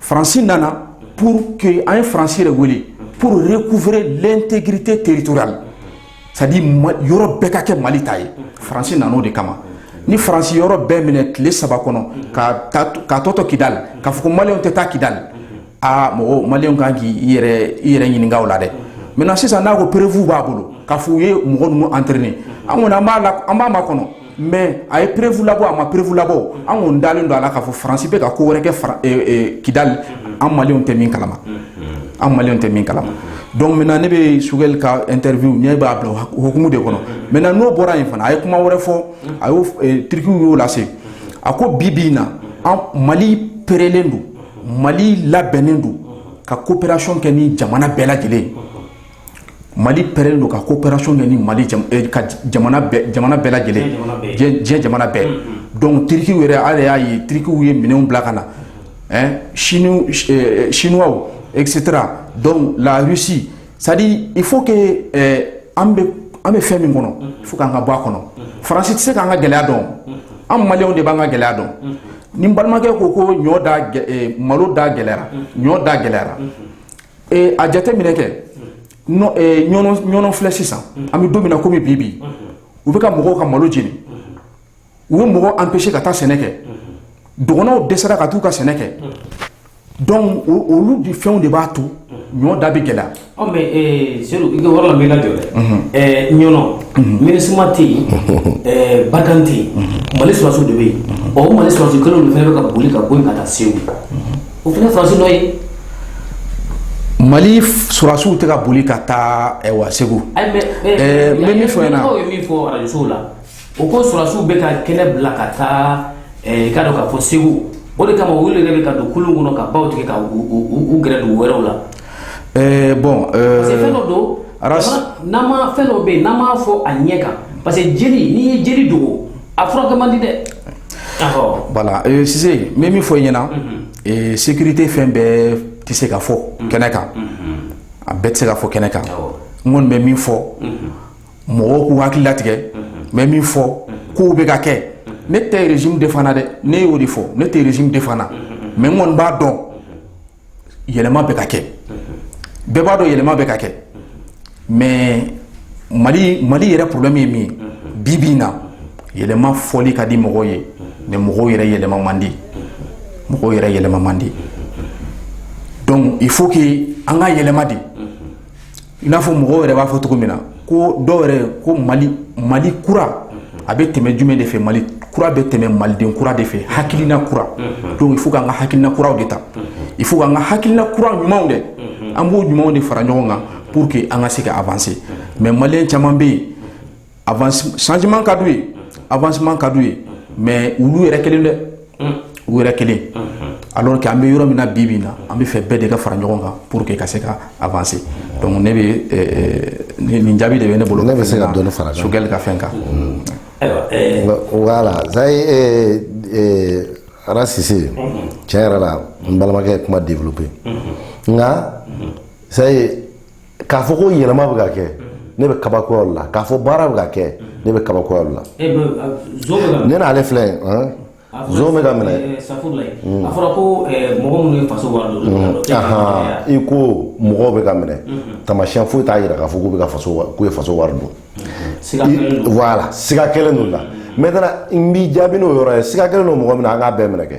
Faransi nana pour que an ye faransi de wele pour recouvrer l'intégrité territoriale c'est-à-dire yɔrɔ bɛɛ ka kɛ mali ta ye faransi nana o de kama ni faransi yɔrɔ bɛɛ minɛ tile saba kɔnɔ ka ka tɔ to kidali k'a fɔ ko maliyɛnw tɛ taa kidali aa mɔgɔ maliyɛnw kan k'i yɛrɛ ɲininka o la dɛ maintenant sisan n'a ko preuve b'a bolo k'a fɔ u ye mɔgɔ ninnu entraîner an kɔni an b'a la an b'a makɔnɔ mais a ye preuve labɔ a ma preuve labɔ an kɔni dalen don a la k'a fɔ faransi bɛ ka ko wɛrɛ kɛ kidali an maliyɛnw tɛ min kalama an maliw tɛ min kalama donc maintenant ne bɛ sogɛli ka interview ne b'a bila hukumu de kɔnɔ maintenant n'o bɔra yen fana a ye kuma wɛrɛ fɔ a ye tirikiw y'o lase a ko bi bi in na an mali perelen don mali labɛnnen don ka coopération kɛ ni jamana bɛɛ lajɛlen mali perelen don ka coopération kɛ ni mali eh, ka jamana bɛɛ lajɛlen diɲɛ jamana bɛɛ donc tirikiw yɛrɛ ale y'a ye tirikiw ye minɛnw bila ka na siniwaw etc. donc la russie c'est-à-dire il faut que an bɛ fɛn min kɔnɔ il faut k'an ka bɔ a kɔnɔ faransi tɛ se k'an ka gɛlɛya dɔn an maliw de b'an ka gɛlɛya dɔn ni n balimakɛ ko ko ɲɔ malo da gɛlɛyara ɲɔ da gɛlɛyara ee a jateminɛ kɛ ɲɔnɔ filɛ sisan an bɛ don min na komi bi bi u bɛ ka mɔgɔw ka malo jeni u bɛ mɔgɔw empêcher ka taa sɛnɛ kɛ dɔgɔnɔw dɛsɛra ka t'u ka sɛnɛ kɛ donc olu de fɛnw de b'a to ɲɔ da bɛ gɛlɛya ɔ mais eh, sedu i ka yɔrɔ la n b'i lajɔ dɛ mhm. eh, ɲɔnɔ mhm. minusma tɛ yen mhm. eh, barkhane tɛ yen mali sɔrɔsiw de bɛ yen ɔ o mali sɔrɔsi kelen de fana bɛ ka boli ka bɔ yen ka taa segu o fana faransi dɔ ye mali sɔrɔsiw tɛ ka boli ka taa wa segu n bɛ min fɔ i ɲɛna aw ye min fɔ arajosow la o ko sɔrɔsiw bɛ ka kɛnɛ bila ka taa i k'a dɔn k'a fɔ segu o de kama olu yɛrɛ bɛ ka don kulun kɔnɔ ka baw tigɛ ka u gɛrɛ dugu wɛrɛw la bon parce que fɛn dɔ don n'an ma fɛn dɔ bɛ yen n'an m'a fɔ a ɲɛ kan parce que jeli n'i ye jeli dogo a furakɛ man di dɛ voilà euh, Sise n bɛ min fɔ i ɲɛna mhm. euh, sécurité fɛn bɛɛ tɛ se ka fɔ mhm. kɛnɛ kan mhm. a bɛɛ tɛ se ka fɔ kɛnɛ kan n kɔni bɛ min fɔ mɔgɔw k'u hakili latigɛ n bɛ min fɔ kow bɛ ka kɛ ne tɛ régime defana dɛ ne y'o de fɔ ne tɛ régime defana mais n kɔni b'a dɔn yɛlɛma bɛ ka kɛ bɛɛ b'a dɔn yɛlɛma bɛ ka kɛ mais mali yɛrɛ problème ye min ye bi bi in na yɛlɛma fɔli ka di mɔgɔw ye mais mɔgɔw yɛrɛ yɛlɛma man di mɔgɔw yɛrɛ yɛlɛma man di donc il faut que an ka yɛlɛma de I n'a fɔ mɔgɔw yɛrɛ b'a fɔ cogo min na ko dɔw yɛrɛ ko mali kura a bɛ tɛmɛ jumɛn de fɛ mali kura bɛ tɛmɛ maliden kura de fɛ hakilina kura donc il faut k'an ka hakilina kuraw de ta il faut k'an ka hakilina kura ɲumanw dɛ an b'o ɲumanw de fara ɲɔgɔn kan pour que an ka se ka avancer mais malien caman bɛ yen a changement ka d'u ye avancement ka d'u ye mais olu yɛrɛ kelen dɛ u yɛrɛ kelen alors que an bɛ yɔrɔ min na bi min na an bɛ fɛ bɛɛ de ka fara ɲɔgɔn kan pour que ka se ka avancer donc ne bɛ nin jaabi de bɛ ne bolo ne bɛ se ka dɔ fara sogɛli ka fɛn kan voilà ara sise tiɲɛ yɛrɛ la n balimakɛ ye kuma développer nka ça y est k'a fɔ ko yɛlɛma bɛ ka kɛ ne bɛ kabakoya la k'a fɔ baara bɛ ka kɛ ne bɛ kabakoya la ne n'ale filɛ zon bɛ ka minɛ hmm. a fɔra ko mɔgɔ minnu ye faso wari dun hmm. i ko mɔgɔw bɛ ka minɛ hmm. tamasiyɛn foyi t'a jira k'a fɔ k'u bɛ ka faso k'u ye faso wari dun voilà siga kɛlen don u la maintenant n b'i jaabi n'o yɔrɔ ye siga kɛlen don mɔgɔ min na an k'a bɛɛ minɛ kɛ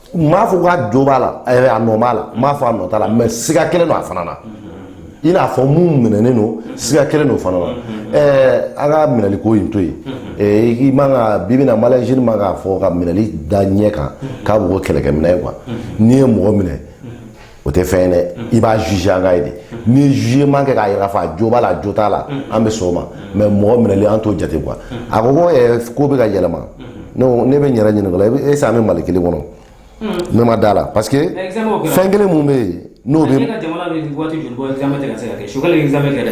n m'a fɔ k'a jo b'a la eh, a nɔ b'a la n m'a fɔ a nɔ t'a la mais siga kɛlen don a fana na i n'a fɔ mun minɛnen don siga kɛlen don o fana na ɛɛ eh, an ka minɛliko in to yen eh, i man kan bi bi in na mali jeune man k'a fɔ ka minɛli da ɲɛ kan k'a b'o kɛ kɛlɛkɛminɛn ye quoi n'i ye mɔgɔ minɛ o tɛ fɛn ye dɛ i b'a juger an k'a ye de n'i ye jugement kɛ k'a yira k'a fɔ a jo b'a la a jo t'a la an bɛ sɔn o ma mais mɔgɔ minɛli an t'o jate quoi a ko ko ɛɛ ko bɛ ka yɛlɛma ne ko ne bɛ n yɛrɛ ɲininka o la est ce que an bɛ Mali kelen kɔnɔ ne ma da la parce que fɛn kelen mun bɛ yen n'o bɛ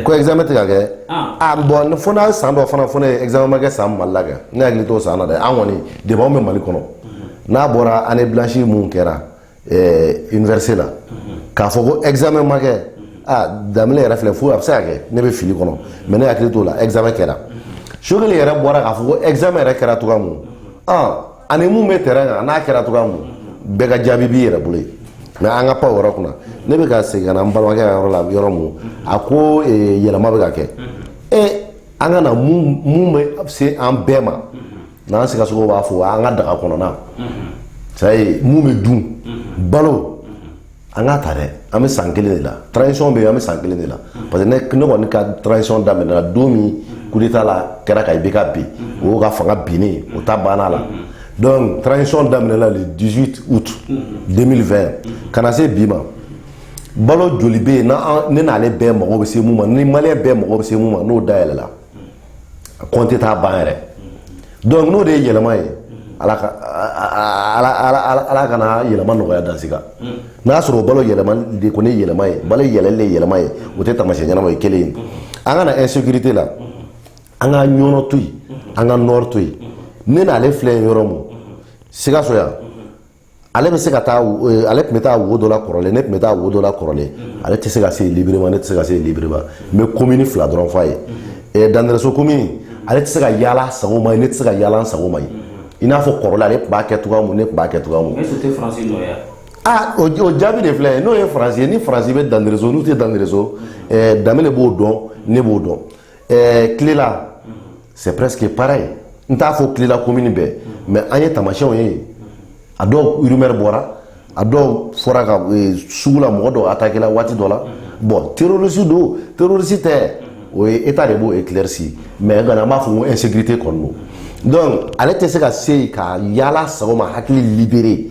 ko examen tɛ ka kɛ bon fo n'a san dɔ fana fɔ ne ye examen ma kɛ san Mali la kɛ ne hakili t'o san na dɛ an kɔni depuis anw bɛ Mali kɔnɔ n'a bɔra année blanche mun kɛra université la k'a fɔ ko examen ma kɛ da yɛrɛ filɛ fo a bɛ se ka kɛ ne bɛ fili kɔnɔ mais ne hakili t'o la examen kɛra sogɛli yɛrɛ bɔra k'a fɔ ko examen yɛrɛ kɛra cogo min ani minnu bɛ terrain kan n'a kɛra cogo min bɛɛ ka jaabi b'i yɛrɛ bolo mais an ka pan yɔrɔ kunna ne bɛ ka segin n balimakɛ ka yɔrɔ la yɔrɔ min a ko yɛlɛma bɛ ka kɛ e an ka na mun bɛ se an bɛɛ ma n'an sikasokaw b'a fɔ an ka daga kɔnɔna ça y est mun bɛ dun balo an k'a ta dɛ an bɛ san kelen de la transition bɛ yen an bɛ san kelen de la parce que ne ne kɔni ka transition daminɛna don min coup d'état la kɛra ka IBK bin o y'o ka fanga binnen o ta banna la donc transition daminɛna le 18 août 2020 ka na se bi ma balo joli bɛ yen n'an ne n'ale bɛɛ mago bɛ se mun ma ni maliyɛn bɛɛ mago bɛ se mun ma n'o dayɛlɛla compter t'a ban yɛrɛ donc n'o de ye yɛlɛma ye ala kana yɛlɛma nɔgɔya dans ce cas n'a y'a sɔrɔ o balo yɛlɛma de ko ne yɛlɛma ye balo yɛlɛlen de ye yɛlɛma ye o tɛ taamasiyɛn ɲɛnama ye kelen ye an ka na insécurité la an ka ɲɔnɔ to yen an ka nord to yen ne n'ale filɛ yen yɔrɔ mun sikaso yan ale bɛ se ka taa eh, ale tun bɛ taa wo dɔ la kɔrɔlen ne tun bɛ taa wo dɔ la kɔrɔlen ale tɛ se ka se librement ne tɛ se ka se librement n bɛ komini fila dɔrɔn f'a ye eh, dandɛrɛso komini ale tɛ se ka yaala sago ma ye ne tɛ se ka yaala sago ma ye i n'a fɔ kɔrɔlen ale tun b'a kɛ cogoya mun ne tun b'a kɛ cogoya mun aa o jaabi de filɛ n'o ye faransi ye ni faransi bɛ dandɛrɛso n'u tɛ dandɛrɛso eh, Danbɛlɛ b'o dɔn ne b'o dɔn ɛɛ kilela c'est presque pareil n t'a fɔ kilela komini bɛɛ mais an ye tamasiyɛnw ye a dɔw rumeur bɔra a dɔw fɔra ka e, sugu la mɔgɔ dɔw attaqué la waati dɔ la bon terroriste don terroriste tɛ o ye état de b'o éclairci mais gana an b'a fɔ ko insécurité kɔni don donc ale tɛ se ka se yen ka yaala sago ma hakili libéré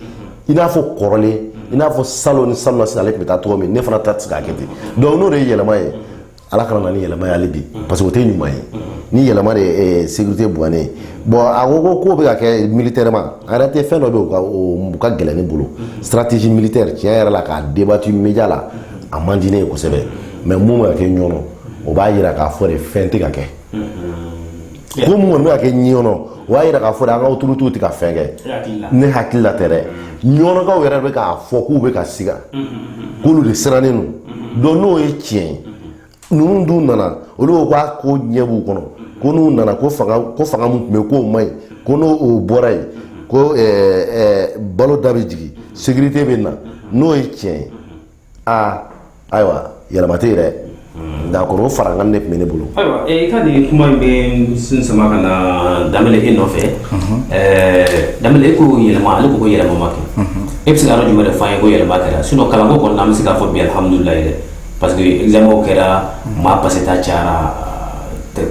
i n'a fɔ kɔrɔlen i n'a fɔ salon ni salon nasini ale tun bɛ taa cogo min ne fana ta tɛ se k'a kɛ ten donc n'o de ye yɛlɛma ye ala kana na ni yɛlɛma ye hali bi parce que o tɛ ɲuman ye ni yɛlɛma de ye sécurité buwanen ye bon a ko ko k'o bɛ ka kɛ militairement en réalité fɛn dɔ bɛ yen o ka o ka gɛlɛn ne bolo stratégie militaire tiɲɛ yɛrɛ la k'a débattu média la a man di ne ye kosɛbɛ mais mun bɛ ka kɛ ɲɔnɔ o b'a yira k'a fɔ de fɛn tɛ ka kɛ ko mun kɔni bɛ ka kɛ ɲɔnɔ o y'a yira k'a fɔ de an ka autorités tɛ ka fɛn kɛ ne hakili la tɛ dɛ ɲɔnɔkaw yɛrɛ bɛ k'a fɔ k'u bɛ ka siga k'olu de sirannen don donc n'o ye tiɲɛ ye ninnu dun nana olu ko k'a ko ɲɛ b'u kɔnɔ ko n'u nana ko fanga ko fanga min tun bɛ yen k'o man ɲi ko n'o o bɔra yen ko ɛɛ ɛɛ balo da bɛ jigin sécurité bɛ na n'o ye tiɲɛ ye aa ayiwa yɛlɛma tɛ yen dɛ d'accord o farankan de tun bɛ ne bolo. ayiwa i ka nin kuma in bɛ n sen sama ka na Danbɛlɛ e nɔfɛ ɛɛ Danbɛlɛ e ko yɛlɛma ale ko ko yɛlɛma ma kɛ e bɛ se ka yɔrɔ jumɛn de f'an ye ko yɛlɛma kɛra sinon kalanko kɔni na an bɛ se k'a fɔ bi alihamudulilayi dɛ parce que examens kɛra maa passé ta cayara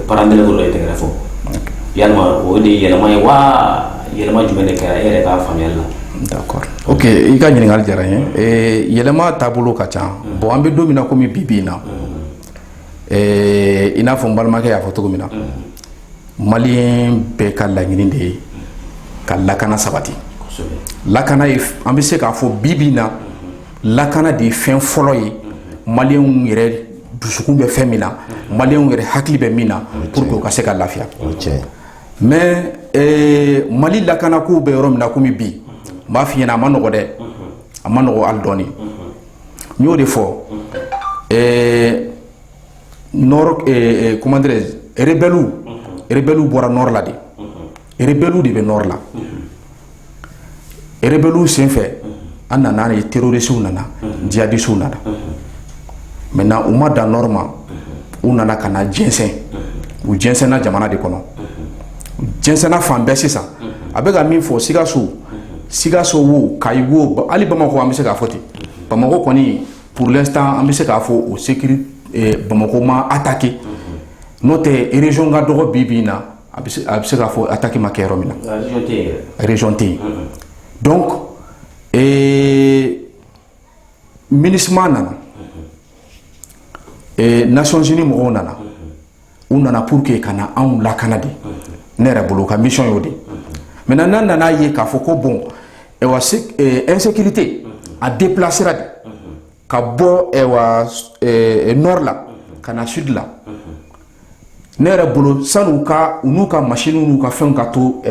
parents d'élèves dɔrɔn de ye tɛgɛrɛ fɔ yalima o de ye yɛlɛma ye wa yɛlɛma jumɛn de kɛra e yɛrɛ ka faamuyali la. d'accord Ok i ka ɲininkali diyara n ye yɛlɛma taabolo ka ca bon an bɛ don min na kɔmi bi bi in na i n'a fɔ n balimakɛ y'a fɔ cogo min na maliyɛn bɛɛ ka laɲini de ye ka lakana sabati lakana ye an bɛ se k'a fɔ bi bi in na lakana de ye fɛn fɔlɔ ye maliyɛnw yɛrɛ dusukun bɛ fɛn min na maliyɛnw yɛrɛ hakili bɛ min na pour que u ka se ka lafiya mais ee Mali lakana kow bɛ yɔrɔ min na komi bi, n b'a f'i ɲɛna a ma nɔgɔ dɛ, a ma nɔgɔ hali dɔɔni, n y'o de fɔ ee nord ee comment dirais je rebelles rebelles bɔra nord la de, rebelles de bɛ nord la rebelles senfɛ an nana ye terroristes nana djihadistes nana maintenant u ma dan nord ma u nana ka na jɛnsɛn u jɛnsɛnna jamana de kɔnɔ u jɛnsɛnna fan bɛɛ sisan a bɛ ka min fɔ Sikaso Sikaso wo Kayi wo hali Bamakɔ an bɛ se k'a fɔ ten Bamakɔ kɔni pour l'instant an bɛ se k'a fɔ o sécurité Bamakɔ ma attaquer n'o tɛ région ka dɔgɔ bi bi in na a bɛ se k'a fɔ attaque ma kɛ yɔrɔ min na région tɛ yen donc MINUSMA nana Nations Unies mɔgɔw nana u nana pour que ka na anw lakana de ne yɛrɛ bolo u ka mission y'o de maintenant n'an nana a ye k'a fɔ ko bon insécurité a déplacera de ka bɔ nord la ka na sud la ne yɛrɛ bolo sanni u ka u n'u ka masinw n'u ka fɛnw ka to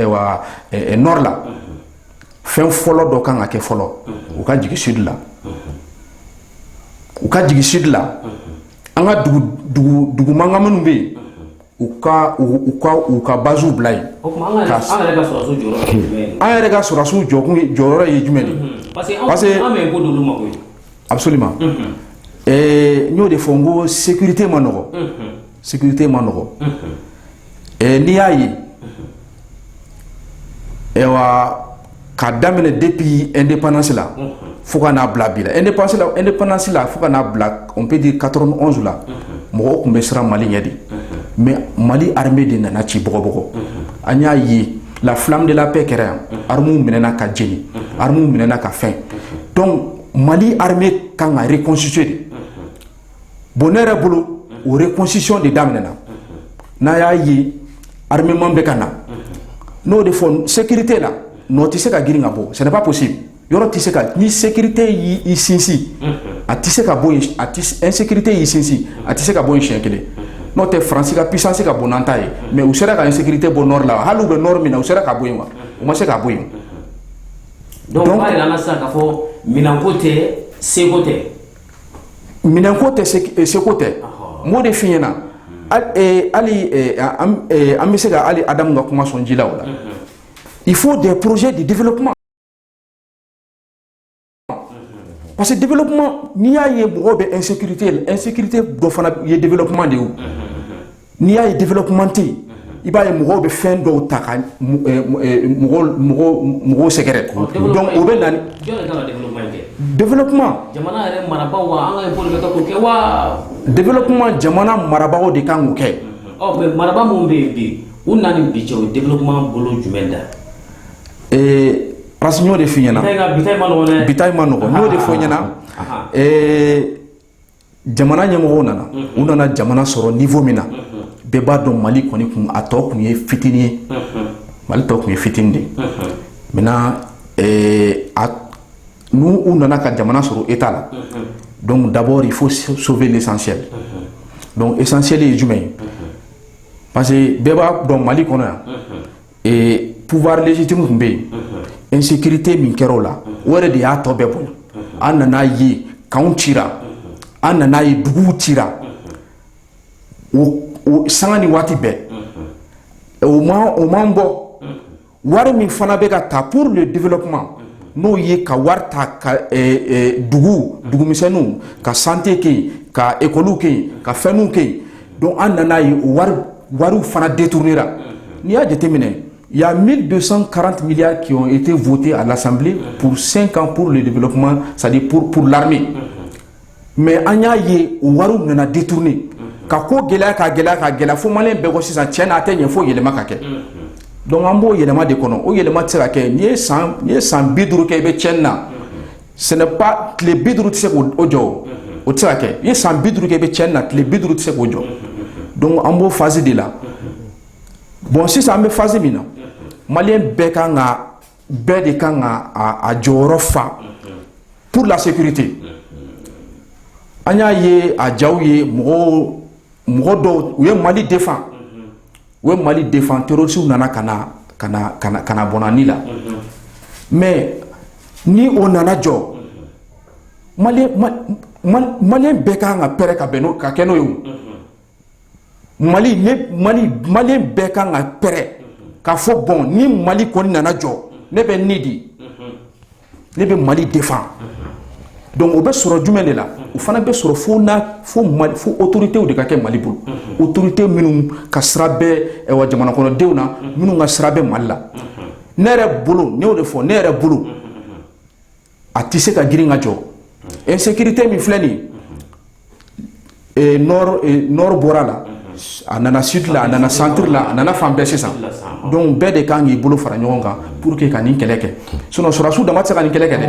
nord la fɛn fɔlɔ dɔ kan ka kɛ fɔlɔ u ka jigin sud la u ka jigin sud la an ka dugu mankan minnu bɛ yen u ka u ka baziw bila yen an yɛrɛ ka sɔrɔdasiw jɔ jɔyɔrɔ ye jumɛn de parce A bɛ ma n y'o de fɔ n ko sete ma nɔgɔ sete ma nɔgɔ n'i y'a ye ka daminɛ de bi e de pansi la fo ka n'a bila bi e pasi e ni pansi la fo ka'a bila pe di ka la mɔgɔ tun bɛ siran mali ɲɛ de mɛ mali ha de nana ci bɔbɔ an y'a ye la filadenla bɛɛ kɛra yan aramu minɛɛna ka jenimu minɛɛna ka fɛn Mali armée kan ka reconstituer de bon ne yɛrɛ bolo o reconstitution de daminɛna n'a y'a ye armement bɛ ka na n'o de fɔ sécurité la nɔ tɛ se ka girin ka bɔ ce n'est pas possible yɔrɔ tɛ se ka ni sécurité y'i sinsin a tɛ se ka bɔ insécurité y'i sinsin a tɛ se ka bɔ siɲɛ kelen n'o tɛ faransi ka puissance ka bon n'an ta ye mais u sera ka insécurité bɔ nord la hali u bɛ nord min na u sera ka bɔ yen wa u ma se ka bɔ yen Donc o b'a jira an na sisan k'a fɔ minɛnko tɛ seko tɛ. Minɛnko tɛ seko tɛ. Ɔhɔ. N b'o de f'i ɲɛna. Unhun. Hali an bɛ se ka hali Adamu ka kuma sɔn ji la o la. Unhun. Il faut des projets de développement. Parce que développement n'i y'a ye mɔgɔw bɛ insécurité la, insécurité dɔ fana ye développement de ye o. Unhun. n'i y'a ye développement tɛ yen i b'a ye mɔgɔw bɛ fɛn dɔw ta ka mɔgɔw sɛgɛrɛ o bɛ na développement développement jamana marabagaw de kan k'o kɛ mais marabaa minnu bɛ yen bi u na ni bi cɛ o développement bolo jumɛn da ee parce que n b'o de f'i ɲɛna bi man nɔgɔn n b'o de f'i ɲɛna jamana ɲɛmɔgɔw nana u nana jamana sɔrɔ niveau min na bɛɛ b'a dɔn mali kɔni kun a tɔ kun ye fitinin ye mali tɔ kun ye fitinin de maintenant n'u nana ka jamana sɔrɔ état la donc d'abord il faut sauver l'essentiel donc essentiel ye jumɛn ye parce que bɛɛ b'a dɔn mali kɔnɔ yan ee pouvoir légitime tun bɛ yen insécurité min kɛra o la o yɛrɛ de y'a tɔ bɛɛ bonya an nan'a ye kanw cira an nan'a ye duguw cira o sanga ni waati bɛɛ o man o man bɔ wari min fana bɛ ka ta pour le développement n'o ye ka wari ta ka dugu dugumisɛnninw ka santé kɛ yen ka ekɔliw kɛ yen ka fɛnw kɛ yen don an nana ye wari fana de tuurue la n'i y'a jateminɛ yan mi don karanti ke e tɛ fte a lasa pur senkan pur de bolo kuma sa pur purla mɛ an y'a ye wari nana di tuuruuni ka ko gɛlɛya ka gɛlɛya ka gɛlɛya fo malen bɛɛ ko sisan cɛ n'a tɛ ɲɛ fɔ yɛlɛma ka kɛ dɔnku an b'o yɛlɛma de kɔnɔ o yɛlɛma tɛ ka kɛ n ye san bi duuru kɛ i bɛ cɛɲɛn na ce n'est pas tile bi duuru tɛ se k'o jɔ o tɛ se ka kɛ i ye san bi duuru kɛ i bɛ cɛnni na tile bi duuru tɛ se k'o jɔ donc an b'o phase de la bon sisan an bɛ phase min na maliyɛn bɛɛ kan ka bɛɛ de kan ka a jɔyɔrɔ fa pour la sécurité an y'a ye a jaw ye mɔgɔw mɔgɔ dɔw u ye mali défendre u ye mali défendre terroristes nana ka n'an bɔ an ni la mais ni o nana jɔ maliyɛn bɛɛ ka kan ka prêt ka bɛn ka kɛ n'o ye maliyɛn bɛɛ ka kan ka prêt k'a fɔ bon ni mali kɔni nana jɔ ne bɛ ni di ne bɛ mali défend donc o bɛ sɔrɔ jumɛn de la o fana bɛ sɔrɔ fo fo fo autoritéw de ka kɛ mali bolo autorité minnu ka sira bɛ wa jamana kɔnɔdenw na minnu ka sira bɛ mali la ne yɛrɛ bolo ne y'o de fɔ ne yɛrɛ bolo a tɛ se ka girin ka jɔ insécurité min filɛ nin bɔra la a nana sud la a nana centre la a nana fan bɛɛ sisan donc bɛɛ de kan k'i bolo fara ɲɔgɔn kan pour que ka nin kɛlɛ kɛ sinon sɔrɔdasiw dama tɛ se ka nin kɛlɛ kɛ dɛ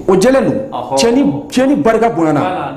o jɛlen don tiɲɛni barika bonyana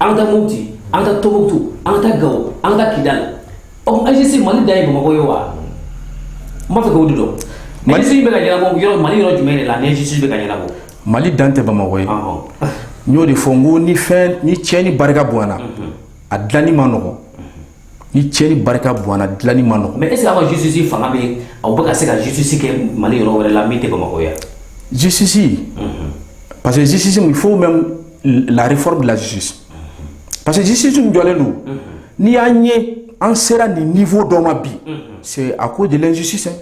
an ka taa moti an ka taa tombouctou an ka taa gao an ka taa kidal injustice mali dan ye bamakɔ ye wa n b'a fɛ k'o de dɔn mali bɛ ka ɲɛnabɔ yɔrɔ mali yɔrɔ jumɛn de la injustice bɛ ka ɲɛnabɔ mali dan tɛ bamakɔ ye n y'o de fɔ n ko ni fɛn ni tiɲɛni barika bonyana a dilanni ma nɔgɔ ni cɛ ni barika bɔn dilani ma nɔgɔ mɛ e sera ka jisisi fanga bɛ aw bɛ ka se kasisi kɛ mali yɔrɔ wɛrɛ la min tɛ bamakɔ yan jisisi parce que jisisi min fo bɛ lare bilasi pa que jisi jɔlen don n'i y'a ɲɛ an sera nin ni fɔ dɔ ma bi se a ko de ji sisan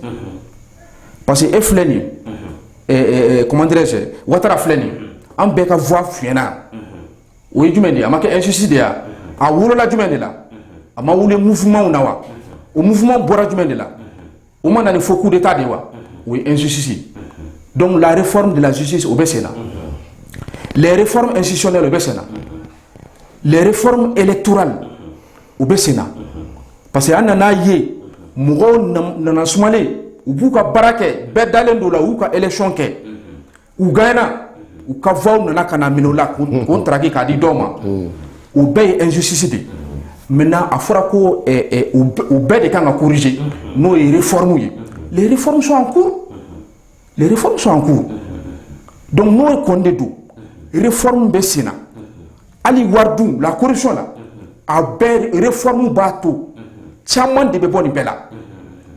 pa que e filɛ nin ye kɔnte watara filɛ nin an bɛɛ ka f fiyna o ye jumɛn de ye a ma kɛ injustice de ye a wolola jumɛn de la a ma wolo mouvementw na wa o mouvement bɔra jumɛn de la o ma na ni fo coup d'état de wa o ye injustice donc la réforme de la justice o bɛ sen na les réformes institutionnelles o bɛ sen na les réformes électorales o bɛ sen na parce que an nan'a ye mɔgɔw nana sumalen u b'u ka baara kɛ bɛɛ dalen don u la u y'u ka élection kɛ u gana u ka fɔw nana ka na minɛ la ko taaraki k'a di dɔw ma u bɛɛ ye ezsisi de mɛ a fɔra ko u bɛɛ de kan ka kuruze n'o ye yiri fmu ye re fɔrɔmusoku re fɔrɔmusoku don n'o ye kɔnde don re fɔrɔmu bɛ sen na hali waridu la kosi la a bɛɛ re fɔrɔmu b'a to caman de bɛ bɔ nin bɛɛ la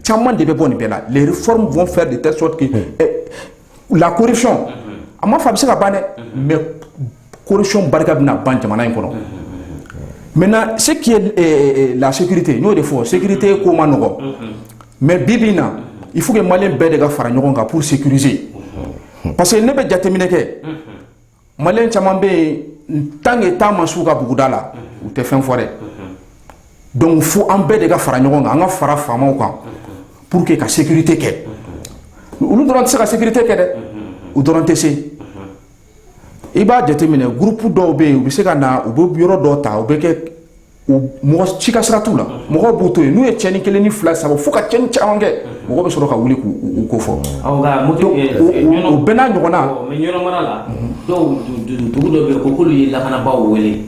caman de bɛ bɔ nin bɛɛ la re fɔrɔmu fɛn de tɛ sɔrɔ ten lakorisi a ma fa bɛ se ka ban dɛ mɛ kosi barika bɛna ban jamana in kɔnɔ mɛ se lasigite n'o de fɔ sete ko ma nɔgɔ mɛ bi bɛ na i fo mali bɛɛ de ka fara ɲɔgɔn kan p sise parce que ne bɛ jateminɛ kɛ maliyɛn caman bɛ yen tant que ta ma s'u ka buguda la u tɛ fɛn fɔ dɛ donc fo an bɛɛ de ka fara ɲɔgɔn kan an ka fara faamaw kan pour que ka sécurité kɛ olu dɔrɔn tɛ se ka sécurité kɛ dɛ u dɔrɔn tɛ se i b'a jateminɛ groupe dɔw bɛ yen u bɛ se ka na u bɛ yɔrɔ dɔw ta u bɛ kɛ mɔgɔ si ka sira t'u la mɔgɔ b'u to yen n'u ye cɛni kelen ni fila saba fo ka cɛni caman kɛ mɔgɔ bɛ sɔrɔ ka wuli k'u ko fɔ o bɛɛ n'a ɲɔgɔnna mais ɲɔnɔn mara la dɔw dugu dɔ bɛ yen ko k'olu ye lakanabaaw wele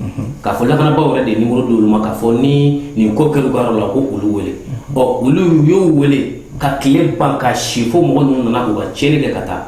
k'a fɔ lakanabaaw yɛrɛ de ye nimɔrɔ d'olu ma k'a fɔ ni nin ko kɛra u ka yɔrɔ la ko olu wele ɔ olu y'u wele ka tile ban ka si fo mɔgɔ ninnu nana k'u ka cɛni kɛ ka taa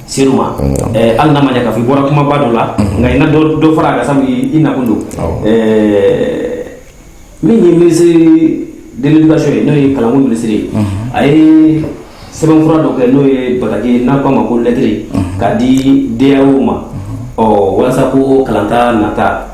Se ma hali n'a ma ɲɛ k'a fɔ i bɔra kumaba dɔ la nka i na dɔ fara a kan sabu i nakun don min ye ministre de l'éducation ye n'o ye kalanko ministre ye a ye sɛbɛnfura dɔ kɛ n'o ye bataki n'an k'a ma ko lɛtɛrɛ k'a di DAEw ma ɔ walasa ko kalanta nata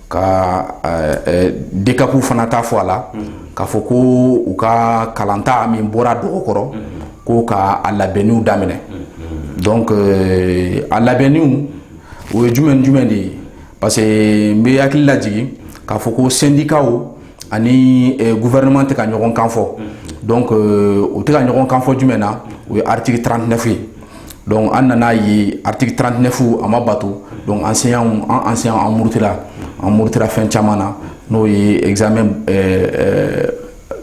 ka DCAPw fana ta fɔ a la k'a fɔ ko u ka kalanta min bɔra dɔgɔ kɔrɔ ko ka a labɛnniw daminɛ donc a labɛnniw o ye jumɛn jumɛn de ye parce que n bɛ hakili lajigin k'a fɔ ko syndicatw ani gouvernement tɛ ka ɲɔgɔn kan fɔ donc u tɛ ka ɲɔgɔn kan fɔ jumɛn na o ye article trente-neuf ye donc an nana a ye article trente-neuf a ma bato donc an enseignants an murutila an murutila fɛn caman na n'o ye examen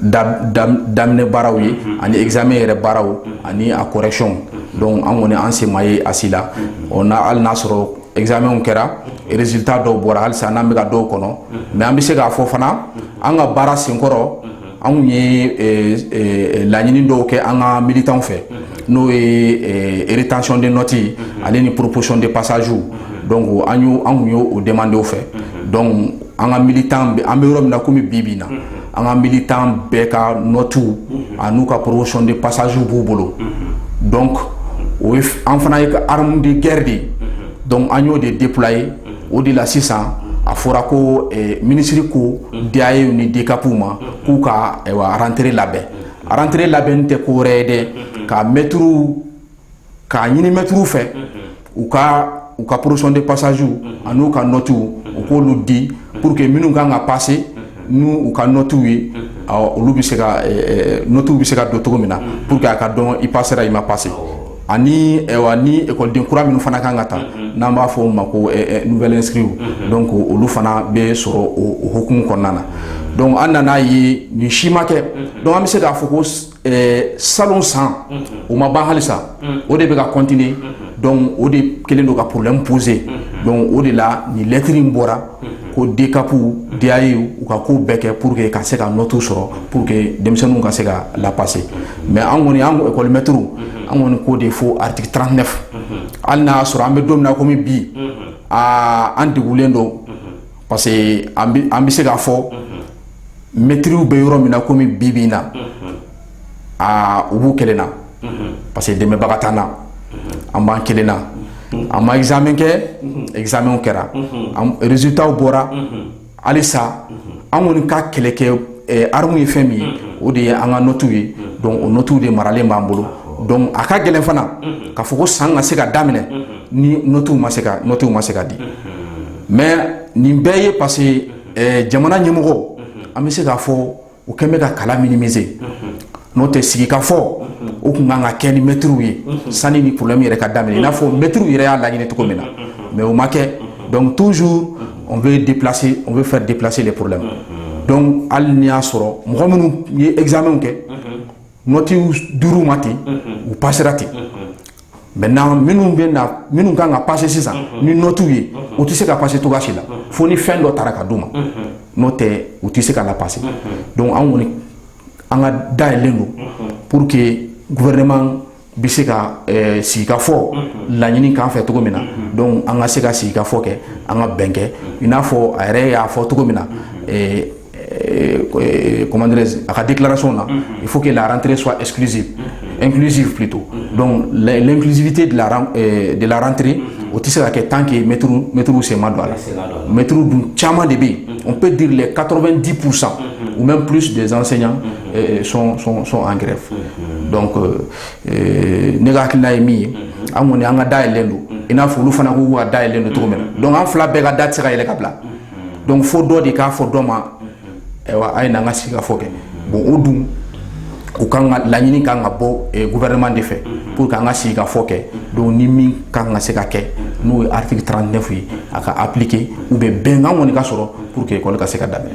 daminɛ baaraw ye ani examen yɛrɛ baaraw ani a correction donc an kɔni an sen ma ye a si la hali n'a y'a sɔrɔ examens kɛra résultats dɔw bɔra halisa n'an bɛ ka dɔw kɔnɔ mais an bɛ se k'a fɔ fana an ka baara senkɔrɔ an tun ye eh, eh, laɲini dɔw kɛ an ka militants fɛ n'o ye eh, rétention de notes ye ale ni proposition de passage donc an y'o an tun y'o demander u fɛ donc an ka militant an bɛ yɔrɔ min na komi bi bi in na. an ka militants bɛɛ ka nɔtuw an'u ka proposition de passagew b'u bolo donc o ye an fana ka arme de guerre de ye donc an y'o de déployer o de la sisan a fɔra ko ministre ko DAEw ni DCAPw ma k'u ka rentrée labɛn rentrée labɛn tɛ ko wɛrɛ ye dɛ ka maîtres k'a ɲini maîtres fɛ u ka u ka proposition de passagew ani'u ka nɔtuw u k'olu di pour que minnu kan ka pase n'u ka nɔtuw ye olu bɛ se nɔtuw bɛ se ka don cogo min na pour que a ka dɔn i pasera i ma pase ani écoleden kura minnu fana kan ka ta n'an b'a fɔ o ma ko nouvelles inscrits donc olu fana bɛ sɔrɔ o hukumu kɔnɔna na donc an nana a ye nin si ma kɛ donc bɛ se k'a fɔ ko salon san o ma ban halisa o de bɛ ka continuer donc o de kelen don ka problème poser donc o de la nin lettre in bɔra ko DCAP DAE u ka ko bɛɛ kɛ pour que ka se ka nɔti sɔrɔ pour que denmisɛnninw ka se ka lapasser mais an kɔni an école maître an kɔni ko de fo article 39 hali n y'a sɔrɔ an bɛ don min na kɔmi bi aa an degulen don parce que an bɛ se k'a fɔ mɛtiriw bɛ yɔrɔ min na kɔmi bi bi in na aa u b'u kelen na parce que dɛmɛbaga t'an na an b'an kelen na an ma examen kɛ examenw kɛra résultatw bɔra halisa an kɔni ka kɛlɛkɛ arme ye fɛn min ye o de ye an ka nɔtiw ye donc o nɔtiw de maralen b'an bolo donc a ka gɛlɛn fana k'a fɔ ko san ka se ka daminɛ ni nɔtiw nɔtiw ma se ka di mais nin bɛɛ ye parce que jamana ɲɛmɔgɔ an bɛ se k'a fɔ u kɛlen bɛ ka kalan minimiser n'o tɛ sigikafɔ o kun kan ka kɛ ni mɛtiriw ye sanni nin problème yɛrɛ ka daminɛ n'a fɔ mɛtiriw yɛrɛ y'a laɲini cogo min na mais o ma kɛ donc toujours on veut déplacer on veut faire déplacer les problèmes donc hali ni y'a sɔrɔ mɔgɔ minnu ye examenw kɛ nɔtiw dir'u ma ten u passera ten maintenant minnu bɛ na minnu kan ka passer sisan ni nɔtiw ye u tɛ se ka passer cogoya si la fo ni fɛn dɔ taara ka d'u ma n'o tɛ u tɛ se ka lapasser donc an kɔni an ka da yɛlɛlen don pour que gouvernement bɛ se ka eh, sigikafɔ mhm. laɲini k'an fɛ cogo min na mhm. donc an ka se ka sigikafɔ kɛ an ka bɛn kɛ mhm. i n'a fɔ a yɛrɛ y'a fɔ cogo min na eh, eh, comment dirais a ka déclaration na il faut que la rentrée soit exclusive inclusive plutôt donc l'inclusivité de la de la rentrée o tɛ se ka kɛ tant que maîtrew sen ma don a la maître dun caman de bɛ yen on peut dire les 90% ou même plus des enseignants sont en grève donc ne ka hakilila ye min ye an kɔni an ka da yɛlɛlen don i n'a fɔ olu fana k'u ka da yɛlɛlen don cogo min na donc an fila bɛɛ ka da tɛ se ka yɛlɛ ka bila donc fo dɔ de k'a fɔ dɔ ma ayiwa a ye na an ka sigikafɔ kɛ bon o dun u kan ka laɲini kan ka bɔ gouvernement de fɛ pour que an ka sigikafɔ kɛ donc nin min kan ka se ka kɛ n'o ye article 39 ye a ka appliquer ou bien bɛnkan kɔni ka sɔrɔ pour que école ka se ka daminɛ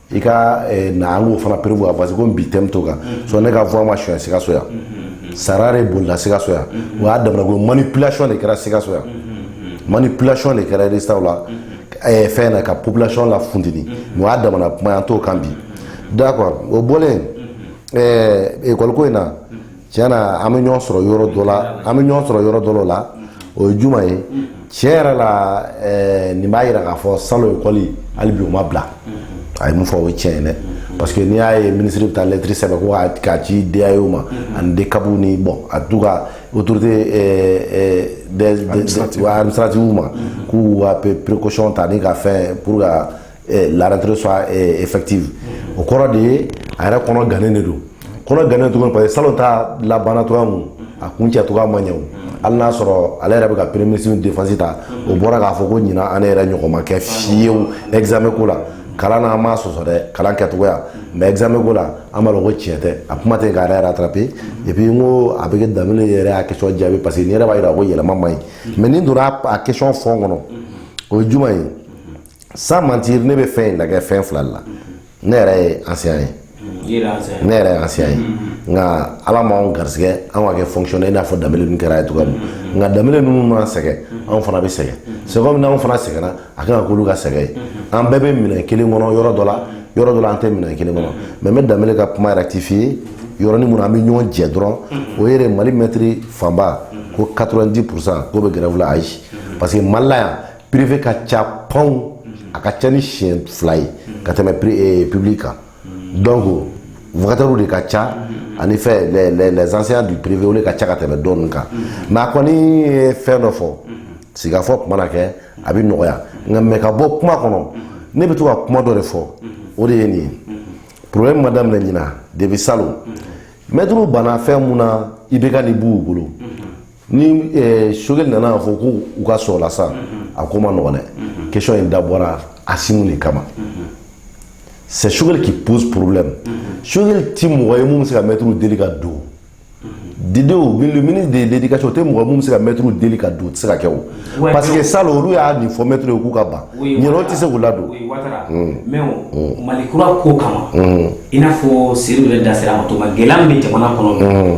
i ka eh, na an k'o fana prévoir parce que komi bi thème t'o kan mm-hmm. so ne ka voix ma suɲɛ sikaso yan mm-hmm. sara de bolila sikaso yan mm-hmm. o y'a damana ko manipulation de kɛra sikaso yan manipulation de kɛra résultat la eh, fɛn na ka population la funteni mais o y'a damana kuma ye an t'o kan bi d'accord o bɔlen ekɔliko eh, in na tiɲɛ na an bɛ ɲɔgɔn sɔrɔ yɔrɔ dɔ la an bɛ ɲɔgɔn sɔrɔ yɔrɔ dɔ la o ye juma ye tiɲɛ yɛrɛ la eh, nin b'a jira k'a fɔ salon ekɔli hali bi o ma bila a ye mun fɔ o ye tiɲɛ ye dɛ parce que n'i y'a ye minisiri bɛ taa lɛtiri sɛbɛn ko k'a- k'a ci DAE ma ani DCAP ni bon en tout cas autorité eh, eh, des- des- des- wa administrative ma k'u ka pe- précaution ta ni ka fɛn pour que eh, la rentrée soit eh, effective o kɔrɔ de ye a yɛrɛ kɔnɔ gannen de don kɔnɔ gannen tuguni parce que salon ta labanna cogoya mun a kuncɛ cogoya ma ɲɛ o hali n'a sɔrɔ ale yɛrɛ bɛ ka premier ministre défense ta o bɔra k'a fɔ ko ɲinan an yɛrɛ ɲɔgɔn ma kɛ fiyewu examen ko la kalan na an m'a sɔsɔ dɛ kalan kɛcogoya mais examen ko la an b'a dɔn ko tiɲɛ tɛ a kuma tɛ k'a yɛrɛ rattraper et puis n ko a bɛ kɛ danbele yɛrɛ y'a question jaabi parce que nin yɛrɛ b'a jira ko yɛlɛma man ɲi mais n'i donna a question fond kɔnɔ o ye juma ye sans mentir ne bɛ fɛn in lajɛ fɛn fila de la ne yɛrɛ ye enseignant ye ne yɛrɛ ye enseignant ye nka ala m'anw garisigɛ anw ka kɛ fonctionnaire i n'a fɔ danbele ninnu kɛra ye cogoya min nka danbele ninnu mana sɛgɛn anw fana bɛ sɛgɛn c'est comme n'anw fana sɛgɛnna a kan ka k'olu ka sɛgɛn ye an bɛɛ bɛ minɛn kelen kɔnɔ yɔrɔ dɔ la yɔrɔ dɔ la an tɛ minɛn kelen kɔnɔ mais n bɛ danbele ka kuma rectifier yɔrɔnin mun na an bɛ ɲɔgɔn jɛ dɔrɔn o ye de mali mɛtiri fanba ko 90 pourcent k'o bɛ grève la ayi parce que mali la yan privé ka ca panw a ka ca ni siɲɛ fila ye ka tɛmɛ public kan donc vacataires de ka ca ani fɛ les, les, les enseignants du privé olu de ka ca ka tɛmɛ tɔ ninnu kan mais a kɔni ye fɛn dɔ fɔ sigikafɔ ko mana kɛ a bɛ nɔgɔya nka mais ka bɔ kuma kɔnɔ ne bɛ to ka kuma dɔ de fɔ o de ye nin ye problème ma daminɛ ɲinan depuis salon mɛtiriw banna fɛn mun na IBK ni Boubou bolo ni eh, Choguel nana fɔ ko u ka sɔn a la sa a ko man nɔgɔn dɛ question in dabɔra Assimi de kama c'est Choguel qui pose problème Choguel ti mɔgɔ ye mun bɛ se ka mɛtiriw deli ka don Dédéou bi le ministre de l'éducation o tɛ mɔgɔ mun bɛ se ka mɛtiriw deli ka don o tɛ se ka kɛ o Ouais, parce que donc- salon olu y'a nin fɔ mɛtiriw ye k'u ka ban ɲinan u tɛ se k'u ladon Oui, Ouattara. Mais o, Mali kura ko kama i n'a fɔ Seydou yɛrɛ da sera a ma cogo min na, gɛlɛya min bɛ jamana kɔnɔ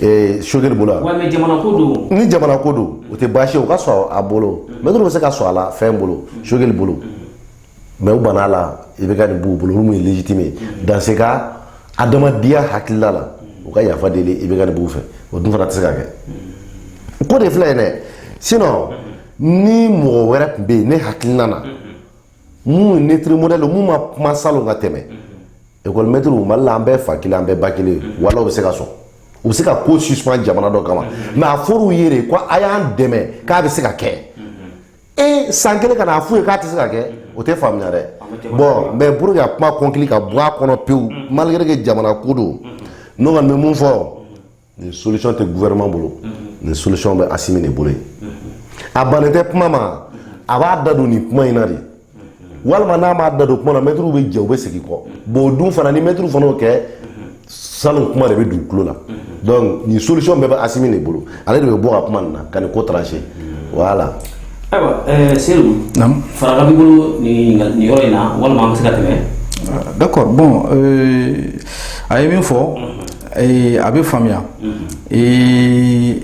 Ee Choguel bolo ni jamana ko don o tɛ baasi o ka sɔrɔ a bolo mɛtiriw bɛ se ka sɔn a la fɛn bolo Choguel bolo mais u banna a la IBK ni Boubou bolo olu mun ye légitime ye dans ce cas adamadenya hakilila la u ka yafa deli IBK ni Boubou fɛ o dun fana tɛ se ka kɛ ko de filɛ yen dɛ sinon ni mɔgɔ wɛrɛ tun bɛ yen ne hakilina na minnu neutre modèle minnu ma kuma salon ka tɛmɛ école maître mali la an bɛɛ fa kelen an bɛɛ ba kelen wala u bɛ se ka sɔn u bɛ se ka ko suspend jamana dɔ kama mais a fɔr'u ye de ko a y'an dɛmɛ k'a bɛ se ka kɛ e san kelen ka na a f'u ye k'a tɛ se ka kɛ o tɛ faamuya dɛ bon mais pour que a kuma kɔnkili ka bɔ a kɔnɔ pewu malgré que jamana ko don ne kɔni bɛ mun fɔ nin solution tɛ gouvernement bolo nin solution bɛ Asimi de bolo yen a bannen tɛ kuma ma a b'a da don nin kuma in na de walima n'a m'a da don kuma na mɛtiriw bɛ jɛ u bɛ segin kɔ bon o dun fana ni mɛtiriw fana y'o kɛ salon kuma de bɛ don tulo la donc nin solution bɛɛ bɛ Asimi de bolo ale de bɛ bɔ ka kuma nin na ka nin ko trancher voilà. ayiwa eh, Seyidu farankan b'i bolo nin yɔrɔ in na walima an bɛ se ka tɛmɛ. d'accord bon euh, a ye min fɔ. Ee a bɛ faamuya ee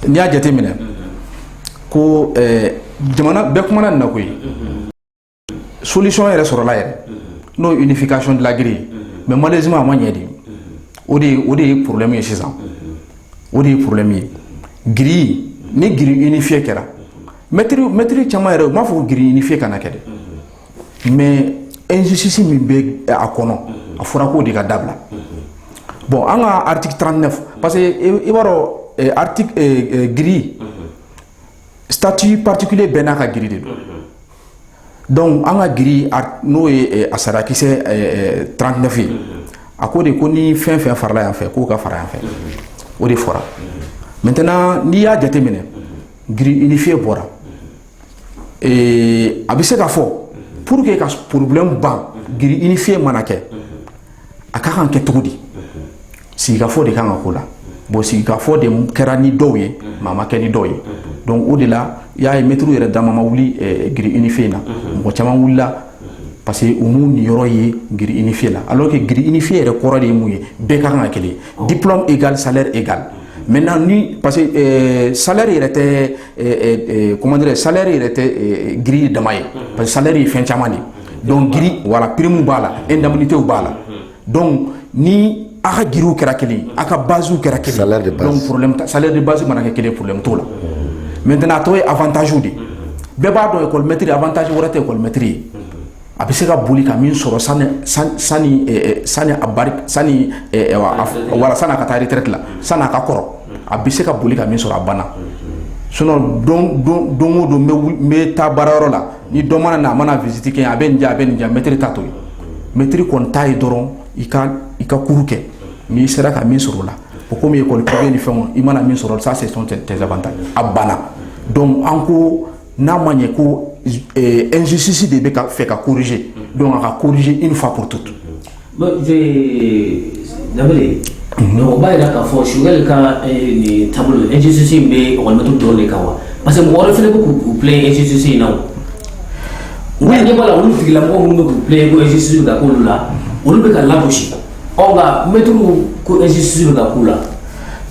n'i y'a jate minɛ ko jamana bɛɛ kuma na koyi solisɔn yɛrɛ sɔrɔlala yɛrɛ n'o nifi kasɔnon dilankiri mɛ mali z a ma ɲɛ de o o de ye porolenmi ye sisan o de ye porolenmi ye g ni g i ni fi kɛra mɛtiriri caman yɛrɛ u b'a fɔ g i ni fi kana kɛ dɛ mɛ ezsi min bɛ a kɔnɔ a fɔra ko de ka dabila bɔn an ka arati tan ne parce que i b'a dɔn g sati patikile bɛn n'a ka g de don dɔnku an ka g n'o ye a sarakisɛ tfin a ko de ko ni fɛn fɛn farala yan fɛ k'o ka fara yan fɛ o de fɔra mɛt n'i y'a jateminɛ g i ni fi bɔra ee a bɛ se ka fɔ pour que ka problème ban grille unifiée mana kɛ a ka kan kɛ cogo di sigikafɔ de kan ka k'o la bon sigikafɔ de kɛra ni dɔw ye mais a ma kɛ ni dɔw ye donc o de la i y'a ye mɛtiriw yɛrɛ dama ma wuli grille unifiée in na mɔgɔ caman wulila parce que u m'u niyɔrɔ ye grille unifiée la alors que grille unifiée yɛrɛ kɔrɔ de ye mun ye bɛɛ ka kan ka kelen diplôme égal salaire égal maintenant ni parce que salaire yɛrɛ tɛ kɔmandire sari yɛrɛ tɛ g dama ye pa sari ye fɛn caman de dɔn g wala primu b'a la e lamini tɛ b'a la dɔn ni aw ka gw kɛra kelen aw ka basiw kɛra kelen sari de basi mana kɛ kelen porolenme to la mɛt a tɔgɔ ye atazw de bɛɛ b'a dɔn yemɛtiri ataz wɛrɛ tɛmɛtiri ye a bɛ se ka boli ka min sɔrɔ sani wala sani a ka taa retraite la sani a ka kɔrɔ a bɛ se ka boli ka min sɔrɔ a banna sinon don o don n bɛ taa baara yɔrɔ la ni dɔ mana na a mana visite kɛ a bɛ nin a bɛ nin mɛtiri ta t'o ye mɛtiri kɔni ta ye dɔrɔn i ka i ka cours kɛ n'i sera ka min sɔrɔ o la o komi école privée ni fɛnw i mana min sɔrɔ ça c'est tes avantages a banna donc n'a ma ɲɛ ko nzsisi de bɛ ka fɛ ka kuruze don a ka kuruze i fa ko tutu danbebe o b'a jira k'a fɔ sokɛli ka nin taabolo ezsi in bɛ mɔgɔtu dɔrɔn de kan wa parce que mɔgɔ fana bɛ k'u bilen ezsi in na u ye ɲɛ la olu tigila mɔgɔ minnu bɛ k'u bilen ko ezsi ka k'olu la olu bɛ ka labu mɛtu ko ezsi bɛ ka k'u la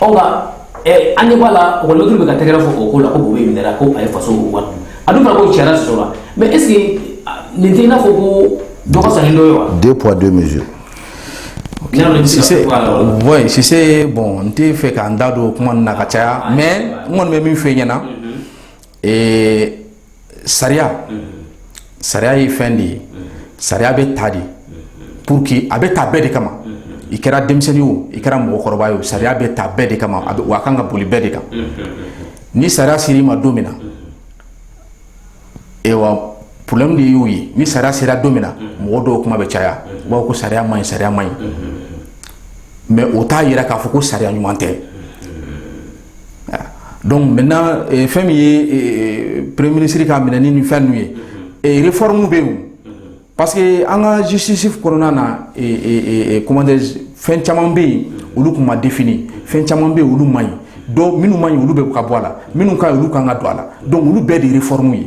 ɔ nka eh, an ɲɛ b'a la ekɔlimɛtiriw bɛ ka tɛgɛrɛ fɔ o ko la ko Boubèye minɛra ko a ye faso wari dun a dun fana ko sariya sɔsɔla mɛ est ce que ah, nin tɛ i n'a fɔ ko dɔ ka fisa ni dɔ ye wa deux poids deux mesures Sise, bon, n tɛ fɛ k'an da don o kuma ninnu na ka caya, mais n kɔni bɛ min f'i ɲɛna, Ee sariya sariya ye fɛn de ye sariya bɛ ta de pour que a bɛ ta bɛɛ de kama i kɛra denmisɛnnin o i kɛra mɔgɔkɔrɔba ye o sariya bɛ ta bɛɛ de kama a a kan ka boli bɛɛ de kan ni sariya sera i ma don min na problème de y'o ye ni sariya sera don min na mɔgɔ dɔw kuma bɛ caya b'a ko sariya man ɲi sariya man ɲi mɛ o t'a jira k'a fɔ ko sariya ɲuman tɛ dɔnku maintenant fɛn min ye premier minisiri ka minɛni ni fɛn ninnu ye réforme bɛ yen parce que an ka justice kɔnɔna na comment fɛn caman bɛ yen olu tun ma défini fɛn caman bɛ olu man ɲi dɔnku minnu man ɲi olu bɛ ka bɔ a la minnu ka olu kan ka don a la dɔnku olu bɛɛ de ye réforme ye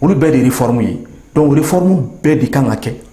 olu bɛɛ de ye réforme ye dɔnku réforme bɛɛ de kan ka kɛ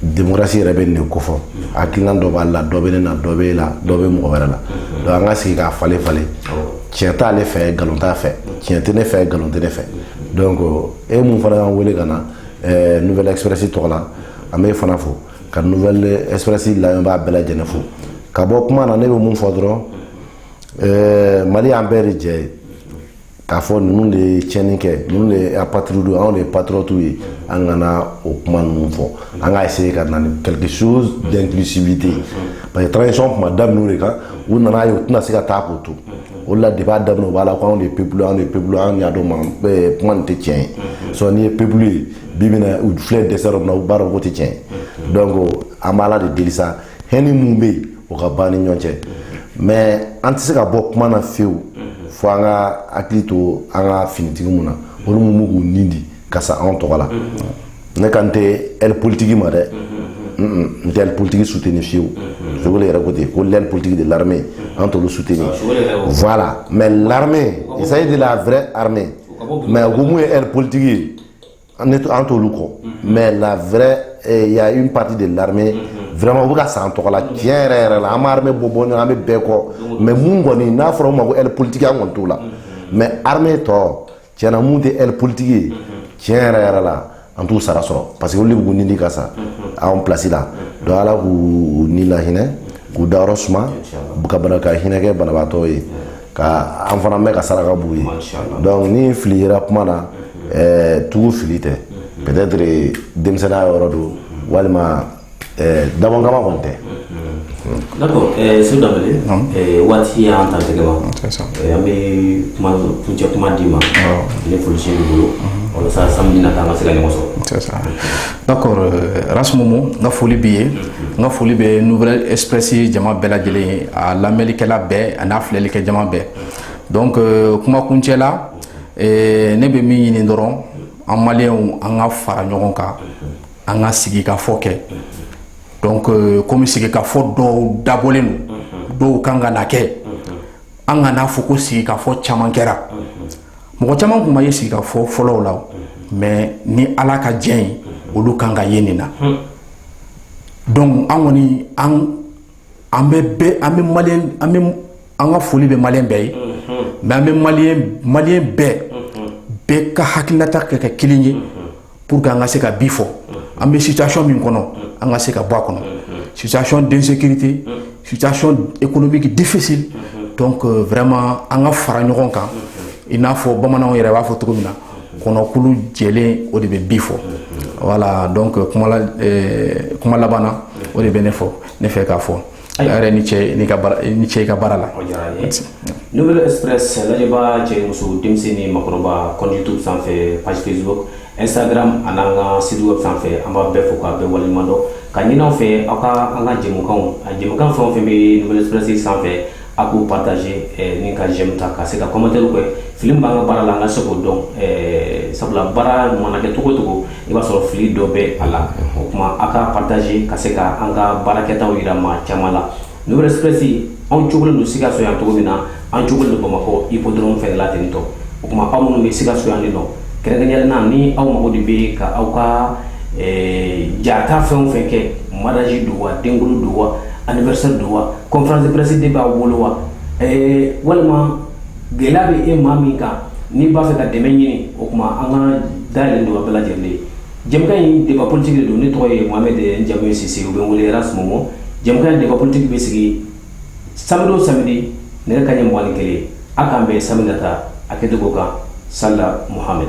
demokarasi yɛrɛ bɛ nin kɔfɔ hakilina dɔ b'a la dɔ bɛ ne na dɔ b'e la dɔ bɛ mɔgɔ wɛrɛ la donc an ka sigi k'a falen falen tiɲɛ t'ale fɛ nkalon t'a fɛ tiɲɛ tɛ ne fɛ nkalon tɛ ne fɛ ko e min fana y'an wele ka na Nouvelle Express tɔgɔ la an b'e fana fo ka Nouvelle Express la b'a bɛɛ lajɛlen fo ka bɔ kuma na ne bɛ mun fɔ dɔrɔn mali y'an bɛɛ de jɛ ye k'a fɔ ninnu de ye tiɲɛni kɛ ninnu de ye apatridiw anw de ye patriotiw ye an kana o kuma ninnu fɔ an ka essayer ka na ni quelque chose d'inclusivité parce que transition tun ma daminɛ o de kan u nana ye u tɛna se ka taa k'o to o de la depuis a daminɛ u b'a la ko anw de ye peuple anw de ye peuple anw y'a dɔn ma eh, kuma nin tɛ tiɲɛ ye sɔrɔ n'i ye peuple ye bi bi in na u filɛ dɛsɛ yɔrɔ min na u b'a dɔn k'o tɛ tiɲɛ ye donc an b'Ala de deli sa hɛni mun bɛ yen o ka ban an ni ɲɔgɔn cɛ mɛ an tɛ se ka bɔ kuma na fewu fo an ka hakili to an ka finitigi mun na olu minnu k'u ni di ka sa anw tɔgɔ la ne kan tɛ aile politique ma dɛ n tɛ aile politique suteni fewu Choguel yɛrɛ ko ten ko l'aile politique de l'armée an t'olu suteni voilà mɛ l'armée il s'agit de la vraie armée mɛ ko mun ye aile politique ye an ne an t'olu kɔ mais la vraie eh, y a une partie de l'armée vraiment u bɛ ka sa an tɔgɔ la tiɲɛ yɛrɛ yɛrɛ la an bɛ armée bɔ bɔ ɲɔgɔn an bɛ bɛɛ kɔ mais mun kɔni n'a fɔra u ma ko aile politique an kɔni t'o la mais armée tɔ tiɲɛ na mun tɛ aile politique ye tiɲɛ yɛrɛ yɛrɛ la an t'u sara sɔrɔ parce que olu de b'u ni di ka sa anw place la donc ala k'u ni lahinɛ k'u dayɔrɔ suma ka bana ka hinɛ kɛ banabaatɔ ye ka an fana mɛɛn ka saraka b'u ye donc ni fili yera kuma na ɛɛ tugu fili tɛ peut-être denmisɛnninya yɔrɔ don walima ɛɛ dabɔn kama kɔni tɛ. D'accord ɛɛ Seku Danbele ɛɛ waati y'an ta tɛgɛ ma ɛɛ an bɛ kuma kuncɛ kuma d'i ma ni foli se b'i bolo walasa samedi nata an ka se ka ɲɔgɔn sɔrɔ. D'accord Ras Momo n ka foli b'i ye n ka foli bɛ Nouvelle Express jama bɛɛ lajɛlen ye a lamɛnlikɛla bɛɛ ani a filɛli kɛ jama bɛɛ donc kuma kuncɛ la ne bɛ min ɲini dɔrɔn an maliens an ka fara ɲɔgɔn kan an ka sigikafɔ kɛ donc kɔmi sigikafɔ dɔw dabɔlen don dɔw kan ka na kɛ an ka n'a fɔ ko sigikafɔ caman kɛra mɔgɔ caman tun ma ye sigikafɔ fɔlɔw la mais ni ala ka diɲɛ ye olu kan ka ye nin na donc an kɔni an bɛ maliens an bɛ an ka foli bɛ maliens bɛɛ ye mais an bɛ maliens bɛɛ bɛɛ ka hakilinata kɛ kɛ kelen ye pour que an ka se ka bi fɔ an bɛ situation min kɔnɔ an ka se ka bɔ a kɔnɔ situation d'insécurité situation économique difficile donc euh, vraiment an ka fara ɲɔgɔn kan i n'a fɔ bamananw yɛrɛ b'a fɔ cogo min na kɔnɔkulu jɛlen o de bɛ bi fɔ voilà donc euh, kuma la euh, kuma laban na o de bɛ ne fɔ ne fɛ k'a fɔ Ayiwa. yɛrɛ ni ce n'i ka baara ni ce i ka baara la O diyara an ye. Nouvelle Express lajɛbaa cɛ ni muso denmisɛn ni maakɔrɔba compte YouTube sanfɛ page Facebook Instagram a n'an ka site web sanfɛ an b'a bɛɛ fo k'a bɛɛ waleɲuman dɔn k'a ɲini aw fɛ aw ka an ka jɛmukanw a jɛmukan fɛn o fɛn bɛ Nouvelle Express sanfɛ a k'u partager eh, ni ka j'aime ta ka se ka commentaire kɛ fili min b'an ka baara la an ka se k'o dɔn eh, sabula baara mana kɛ cogo o cogo i b'a sɔrɔ fili dɔ bɛ a la o tuma a ka partager ka se ka an ka baara kɛtaw yira maa caman la Nouvelle Express anw cogolen don Sikaso yan cogo min na an cogolen don Bamakɔ hippodrome fɛnɛ la ten tɔ o tuma aw minnu bɛ Sikaso yan nin nɔ kɛrɛnkɛrɛnnenya la ni aw mago de bɛ ka aw ka eh, ja ta fɛn o fɛn kɛ mariage don wa denkuli don wa anniversaire don wa conférence de presse de b'aw bolo wa eh, walima gɛlɛya bɛ e maa min kan n'i b'a fɛ ka dɛmɛ ɲini o tuma an ka da yɛlɛlen don a bɛɛ lajɛlen ye jɛmukan in débat politique de don ne tɔgɔ ye Mohamed n jamu ye Sise u bɛ n wele Ras Momo jɛmukan in débat politique bɛ sigi samedi o samedi nɛgɛ kanɲɛ mugan ni kelen a k'an bɛn samedi nata a kɛcogo kan Salla Mohamed